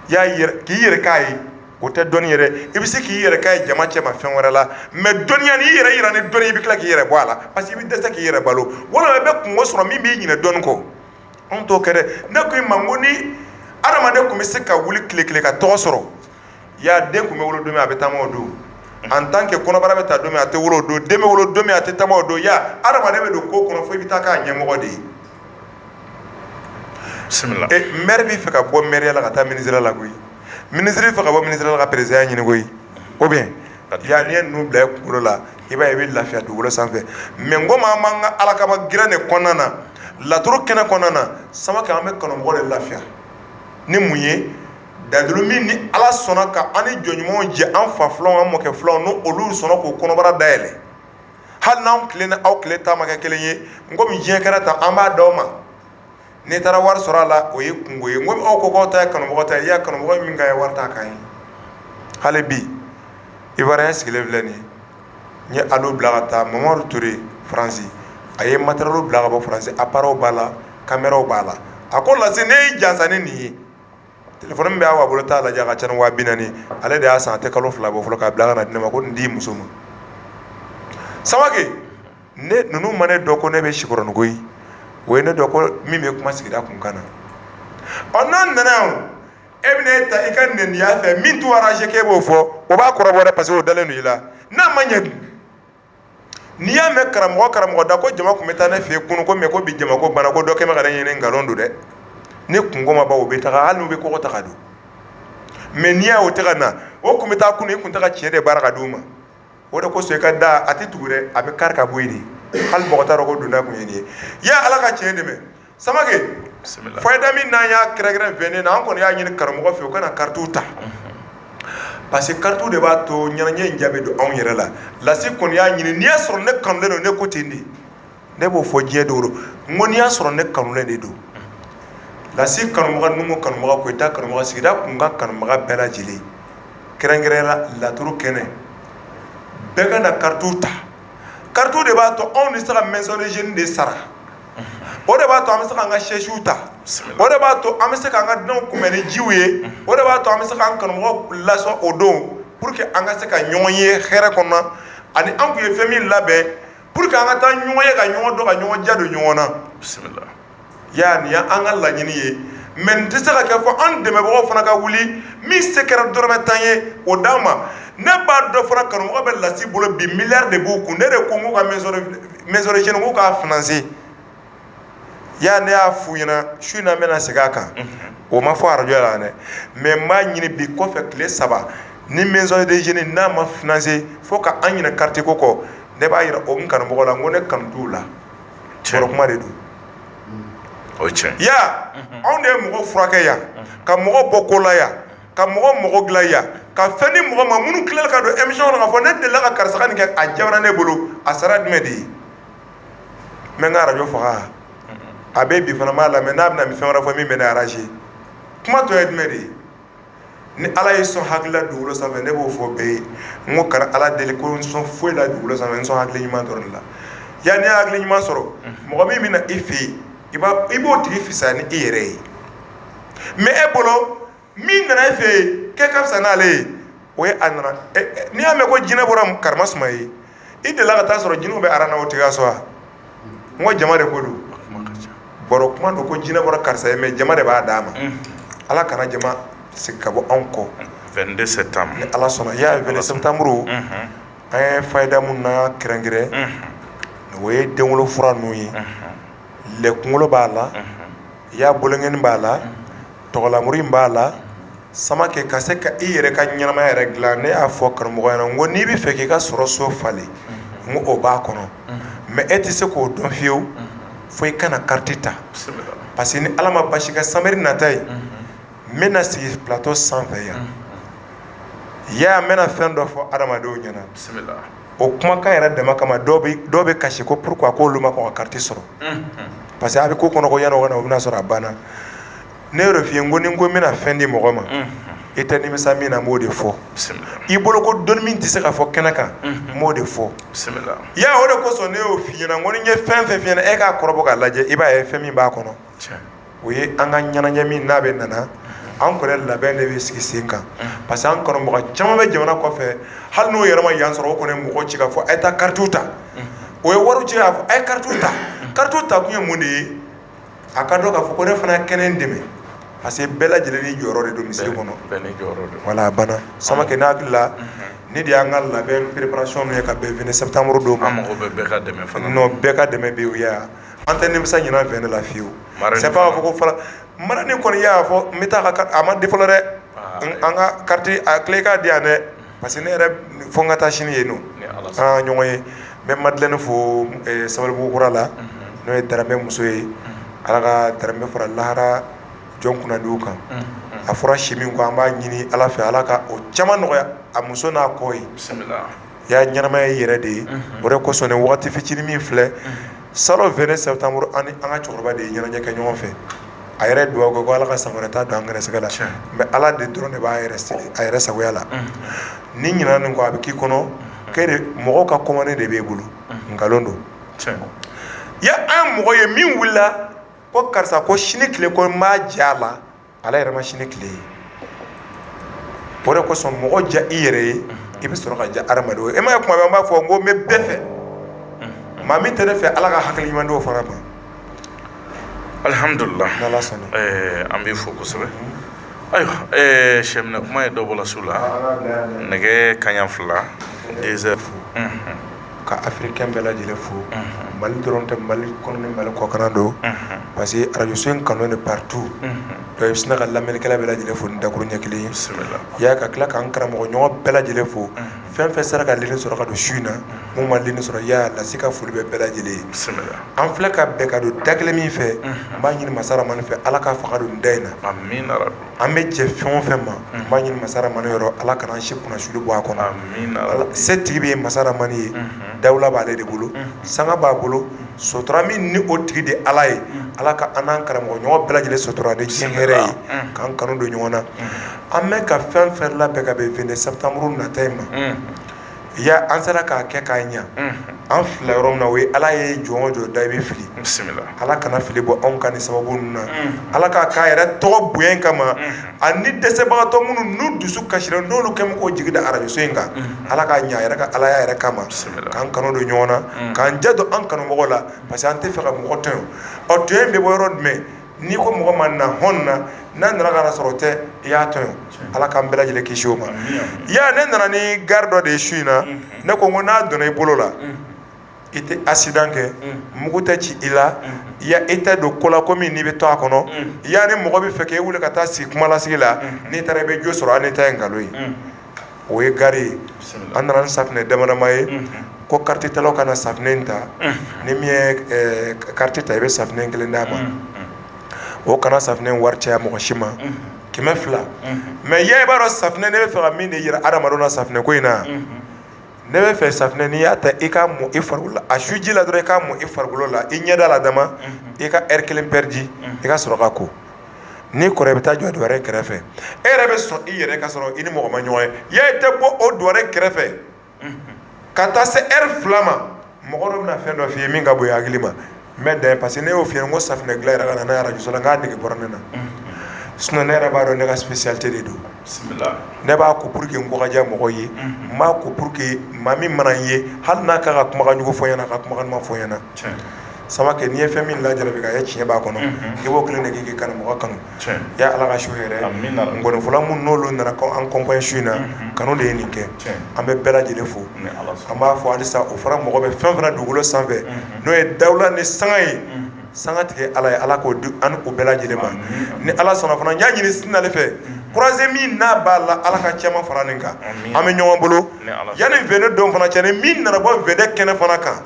ya k'i yɛrɛ k'a ye o tɛ dɔnni yɛrɛ i bɛ se k'i yɛrɛ k'a ye jama cɛma fɛn wɛrɛ la mais dɔnniya n'i y'i yɛrɛ yira ni dɔnni i bɛ tila k'i yɛrɛ bɔ a la parce que i bɛ dɛsɛ k'i yɛrɛ balo walima i bɛ kunko sɔrɔ min b'i ɲinɛ dɔnni kɔ anw t'o kɛ dɛ ne ko i ma n ko ni adamaden tun bɛ se ka wuli tile kelen ka tɔgɔ sɔrɔ ya den tun bɛ wolo don min a bɛ taama o don en tant que kɔnɔbara bɛ ta don min a tɛ wolo o don den bɛ wolo don min a tɛ taama o don ya adamaden bɛ don ko kɔnɔ fo i bɛ taa k'a ɲɛmɔgɔ de ye mɛri b'a fɛ ka bɔ mɛriya la ka taa minisiriya la koyi minisiri b'a fɛ ka bɔ minisiriya la ka perezidanya ɲini koyi ou bien ya n'i ye ninnu bila i kunkolo la i b'a ye i bɛ lafiya dugukolo sanfɛ mais n ko maa an b'an ka ala kama gɛrɛn de kɔnɔna na laturu kɛnɛ kɔnɔna na samake an bɛ kanumɔgɔ de lafiya ni mun ye dalilu min ni ala sɔnna ka a ni jɔn ɲumanw jɛ an fa filanw an mɔkɛ filanw n'olu sɔnna k'o kɔnɔbara dayɛlɛ hali n'an tile n'aw tile ta ma kɛ kelen ye n komi diɲɛ kɛra tan an b'a di aw ma n'i taara wari sɔrɔ a la o ye kungo ye ko aw ko k'aw ta ye kanubaga ta ye i y'a kanubaga min ka ye wari ta ka ye hali bi Ivoirien sigilen filɛ nin n ye alo bila ka taa mamadu ture faransi a ye matériel bila ka bɔ faransi appareilw b'a la caméraw b'a la a ko lasi ne y'i jansa ni nin ye téléphone min bɛ Awa bolo t'a lajɛ a ka ca ni 40.000 ale de y'a san a tɛ kalo fila bɔ fɔlɔ k'a bila ka na di ne ma ko nin d'i muso ma samake ne ninnu ma ne dɔn ko ne bɛ sikɔrɔninko in o ye ne dɔn ko min bɛ kuma sigida kunkan na ɔ n'an nana yan e bɛna e ta i ka neniya fɛ min t'u arranger k'e b'o fɔ o b'a kɔrɔbɔ dɛ parce que o dalen don i la n'a ma ɲɛ dun n'i y'a mɛn karamɔgɔ karamɔgɔ da ko jama tun bɛ taa ne fɛ yen kunun ko mɛ ko bi jama ko bana ko dɔ kɛ bɛ ka n ɲini nkalon don dɛ ni kungo ma ban u bɛ taa hali n'u bɛ kogo ta ka don mɛ n'i y'a o tɛ ka na o tun bɛ taa kunun i tun tɛ ka tiɲɛ de baara ka di u ma o de kosɔn i ka da a tɛ tugu dɛ a bɛ kari ka bɔ yen hali mɔgɔ t'a dɔn ko donda tun ye nin ye ala ka tiɲɛ dɛmɛ samake fayida min n'an y'a kɛrɛnkɛrɛn événement na an kɔni y'a ɲini kanubagaw fɛ u ka na karitiw ta parce que karitiw de b'a to ɲɛnajɛ in ja bɛ don anw yɛrɛ la lasi kɔni y'a ɲini n'i y'a sɔrɔ ne kanulen don ne ko ten de ne b'o fɔ diɲɛ don n ko n'i y'a sɔrɔ ne kanulen de don lasi kanubaga numu kanubaga koyita kanubaga sigida kunkan kanubaga bɛɛ lajɛlen kɛrɛnkɛrɛnya la laturu kɛnɛ bɛɛ ka na karitiw ta karitiw de b'a to anw bɛ se ka maison de jeunes de sara o de b'a to an bɛ se k'an ka sɛsiw ta o de b'a to an bɛ se k'an ka dunanw kunbɛn ni jiw ye o de b'a to an bɛ se k'an kanubagaw lasɔn o don pour que an ka se ka ɲɔgɔn ye hɛrɛ kɔnɔ ani an tun ye fɛn min labɛn pour que an ka taa ɲɔgɔn ye ka ɲɔgɔn dɔn ka ɲɔgɔn ja don ɲɔgɔn na ya nin y'an ka laɲini ye mɛ nin tɛ se ka kɛ fɔ an dɛmɛbagaw fana ka wuli min se kɛra dɔrɔmɛ tan ye o d'an ma ne b'a dɔn fana kanubagaw bɛ lasi bolo bi miliyari de b'u kun ne de ko ka maison de jeunes k'u k'a financer ya ne y'a f'u ɲɛna su in na n bɛna segin a kan o ma fɔ arajɔ la dɛ mɛ n b'a ɲini bi kɔfɛ tile saba ni maison de jeunes n'a ma financer fo k'an ɲinɛ karitiko kɔ ne b'a jira o kanubagaw la ko ne kanu t'u la baro kuma de don o ye tiɲɛ ya anw de ye mɔgɔ furakɛ yan ka mɔgɔ bɔ ko la yan ka mɔgɔ dilan yan ka fɛn di mɔgɔ ma minnu tilala ka don émission kɔnɔ k'a fɔ ne delila ka karisa ka nin kɛ a ɲabɔra ne bolo a sara jumɛn de ye n bɛ n ka arajɔ faga a bɛ bi fana m'a lamɛn n'a bɛna fɛn wɛrɛ fɔ min bɛ ne arranger kuma tɔ ye jumɛn de ye ni ala y'i sɔn hakili la dugukolo sanfɛ ne b'o fɔ bɛɛ ye n ko kana ala deli ko ne sɔn foyi la dugukolo sanfɛ ne sɔn hakili ɲuman dɔrɔn la ya n'i ye hakili ɲuman sɔrɔ mɔgɔ min bɛ na i fɛ yen i b'o tigi fisaya ni i yɛrɛ ye mais e bolo min nana e fɛ yen k'e ka fisa n'ale ye o ye a nana n'i y'a mɛn ko jinɛ bɔra karimasuma ye i delila ka taa sɔrɔ jinɛw bɛ aran na o tigi ka so wa n ko jama de ko don baro kuma don ko jinɛ bɔra karisa ye mais jama de b'a d'a ma ala kana jama segin ka bɔ anw kɔ vingt-deux septembre ni ala sɔnna ya vingt-deux septembre an ye fayida mun na kɛrɛnkɛrɛn o ye denwolo fura ninnu ye lɛ kunkolo b'a la i y'a bolonɛgɛnin b'a la tɔgɔlamuru b'a la Samakɛ ka se ka i yɛrɛ ka ɲɛnamaya yɛrɛ dilan ne y'a fɔ karamɔgɔ ɲɛna n ko n'i bɛ fɛ k'i ka sɔrɔ so falen n ko o b'a kɔnɔ mais e tɛ se k'o dɔn fiyewu fo i kana carte ta parce que ni ala ma basi kɛ sibiri nata ye n bɛna sigi plateau sanfɛ yan ya n bɛna fɛn dɔ fɔ adamadenw ɲɛna o kumakan yɛrɛ dama kama dɔw bɛ kasi ko pourquoi ko olu ma kɔn ka carte sɔrɔ parce que a bɛ k'o kɔnɔ ko yanni o na o bɛna sɔrɔ a banna ne y'o de f'i ye n ko ni n ko n bɛna fɛn di mɔgɔ ma i tɛ nimisa min na b'o de fɔ i bolo ko dɔnni min tɛ se ka fɔ kɛnɛ kan n b'o de fɔ ya o de kosɔn ne y'o fɔ i ɲɛna n ko ni n ye fɛn fɛn f'i ɲɛna e k'a kɔrɔbɔ k'a lajɛ i b'a ye fɛn min b'a kɔnɔ o ye an ka ɲɛnajɛ min n'a bɛna na an kɔni labɛn de bɛ sigi sen kan parce que an kanubaga caman bɛ jamana kɔfɛ hali n'o yɛrɛ ma yan sɔrɔ o kɔni ye mɔgɔ ci k'a fɔ a ye taa carte ta o ye wari ci k'a fɔ a ye carte ta carte ta kun ye mun de ye a k'a dɔn k'a fɔ ko ne fana ka n dɛmɛ parce que bɛɛ lajɛlen n'i jɔyɔrɔ de don misiri kɔnɔ a banna Samakɛ ne hakili la nin de y'an ka labɛn préparation ye ka bɛn vingt septembre don bɛɛ ka dɛmɛ u an tɛ nimisa ɲinan fɛn de la fiyewu, marali fana, c'est pas k'a fɔ ko fara, marali kɔni i y'a fɔ n bɛ taa ka a ma di fɔlɔ dɛ, aa, an ka carte a tila i k'a di yan dɛ parce que ne yɛrɛ fo n ka taa sini yen nɔ, ni Ala sɔnna, an ka ɲɔgɔn ye, n bɛ Madeleine fo Sabalibugu kura la, unhun, n'o ye Daramɛ muso ye, unhun, Ala ka Daramɛ fara lahara jɔn kunnadiw kan, unhun, a fɔra si min kɔ an b'a ɲini Ala fɛ Ala ka o caman nɔgɔya a muso n'a kɔ ye, bisimila y ya ɲɛnamaya y'i yɛrɛ de ye o de kosɔn waati fitinin min filɛ salon vingt septembre an ni an ka cɛkɔrɔba de ye ɲɛnajɛ kɛ ɲɔgɔn fɛ a yɛrɛ dugawu kɛ ko ala ka san wɛrɛ ta don an garisɛgɛ la mais ala de dɔrɔn de b'a a yɛrɛ sagoya la n'i ɲinɛna nin kɔ a bɛ k'i kɔnɔ ko mɔgɔ ka commande de b'e bolo nkalon don ya an mɔgɔ ye min wulila ko karisa ko sini tile ko n b'a ja a la ale yɛrɛ ma sini tile ye o de kosɔn mɔgɔ diya i yɛrɛ ye i bɛ sɔrɔ ka diya adamadenw ye e m'a ye kuma bɛɛ an b'a fɔ n ko n bɛ bɛɛ fɛ maa min tɛ ne fɛ ala ka hakili ɲuman d'o fana ma alihamdulila an b'i fo kosɛbɛ ayiwa sɛbɛ kuma ye dɔ bɔla su la nɛgɛ kaɲa fila deux heures ka afirikɛn bɛɛ lajɛlen fo mali dɔrɔn tɛ mali kɔnɔ ni mali kɔkan don parce que arajoso in kanunen partout donc i bɛ sina ka lamɛnnikɛla bɛɛ lajɛlen fo ni dakuruɲɛ kelen ye ya ka tila ka an karamɔgɔɲɔgɔn bɛɛ lajɛlen fo fɛn fɛn sera ka lini sɔrɔ ka don su in na min ma lini sɔrɔ ya lasi ka foli bɛ bɛɛ lajɛlen ye an filɛ ka bɛn ka don da kelen min fɛ n b'a ɲini masaramani fɛ ala ka fanga don da in na an bɛ jɛ fɛn o fɛn ma n b'a ɲini masaramani yɔrɔ ala kana an si kunnasuli bɔ a kɔnɔ setigi bɛ ye masaramani ye dawula b'aale de bolo sanga b'a bolo sotura min ni o tigi de ala ye ala ka an n'an karamɔgɔ ɲɔgɔn bɛɛ lajɛlen sotura ni si hɛrɛ ye k'an kanu don ɲɔgɔn na an bɛ ka fɛn fɛn labɛn ka bɛn vingt septembre nata in ma ya an sera k'a kɛ k'a ɲa an filila yɔrɔ min na o ye ala ye jɔn o jɔn da i bɛ fili bisimila ala kana fili bɔ anw ka nin sababu ninnu na ala k'a k'a yɛrɛ tɔgɔ bonya kama ani dɛsɛbagatɔ minnu n'u dusu kasira n'olu kɛ bɛ k'u jigi da arajoso in kan ala k'a ɲa yɛrɛ ka ala yɛrɛ kama bisimila k'an kanu don ɲɔgɔn na k'an jɛ don an kanumɔgɔw la parce que an tɛ fɛ ka mɔgɔ tɔɲɔ ɔ tɔɲɔ in bɛ bɔ yɔrɔ jumɛn n'i ko mɔgɔ ma na hɔn na n'a nana ka na sɔrɔ tɛ i y'a tɔɲɔ ala k'an bɛɛ lajɛlen kisi o ma ya ne nana ni gari dɔ de ye su in na ne ko ko n'a donna i bolo la i tɛ accident kɛ mugu tɛ ci i la ya i tɛ don ko la ko min n'i bɛ to a kɔnɔ ya ni mɔgɔ bɛ fɛ k' e wuli ka taa sigi kumalasigi la n'i taara i bɛ jo sɔrɔ hali n'i ta ye nkalon ye o ye gari ye an nana ni safinɛ damadama ye ko karatitalaw ka na safinɛ in ta ni min ye karati ta i bɛ safinɛ kelen d'a ma o kana safinɛ wari caya mɔgɔ si ma kɛmɛ fila mais ya i b'a dɔn safinɛ ne bɛ fɛ ka min de yira hadamadenw na safinɛ ko in na ne bɛ fɛ safinɛ n'i y'a ta i k'a mɔ i farikolo la a suji la dɔrɔn i k'a mɔ i farikolo la i ɲɛda la dama i ka heure kelen pɛridi i ka sɔrɔ ka ko n'i kora i bɛ taa jɔ duware kɛrɛfɛ e yɛrɛ bɛ sɔn i yɛrɛ ka sɔrɔ i ni mɔgɔ ma ɲɔgɔn ye ya i tɛ bɔ o duware kɛrɛfɛ ka taa se heure fila ma mɔgɔ dɔ bɛna fɛn dɔ f'i ye min ka bon i hakili ma n bɛ dan yen parce que ne y'o f'i ye ko safinɛ dilan yɛrɛ ka na n'a ye radio so la k'a nege bɔra ne na, unhun, sinon ne yɛrɛ b'a dɔn ne ka spécialité de don, bisimila, ne b'a ko pour que n ko ka diya mɔgɔw ye, unhun, n b'a ko pour que maa min mana n ye hali n'a ka kan ka kumakan jugu fɔ n ɲɛna a ka kumakan duman fɔ n ɲɛna, tiɲɛ, Samake n'i ye fɛn min lajarabi k'a ye tiɲɛ b'a kɔnɔ, unhun, i b'o kelen de kɛ k'i kanumɔgɔ kanu ya ala ka su hɛrɛ nkɔnifɔla minnu n'olu nana k'an kɔnpaɲe su in na kanu de ye nin kɛ an bɛ bɛɛ lajɛlen fo an b'a fɔ halisa o fana mɔgɔ bɛ fɛn fana dugukolo sanfɛ n'o ye dawula ni sanga ye sangatigi ala ye ala k'o d'an ni o bɛɛ lajɛlen ma ni ala sɔnna fana y'a ɲini sinale fɛ kuraze min n'a b'a la ala ka caman fara nin kan an bɛ ɲɔgɔn bolo yanni vingt don fana cɛ ni min nana bɔ vingt kɛnɛ fana kan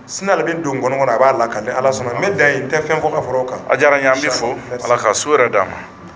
sinale bɛ don kɔnɔ kɔnɔ a b'a lakali ala sɔnna n bɛ dan yen n tɛ fɛn fɔ ka fara o kan a diyara n ye an b'i fo ala ka su hɛrɛ d'an ma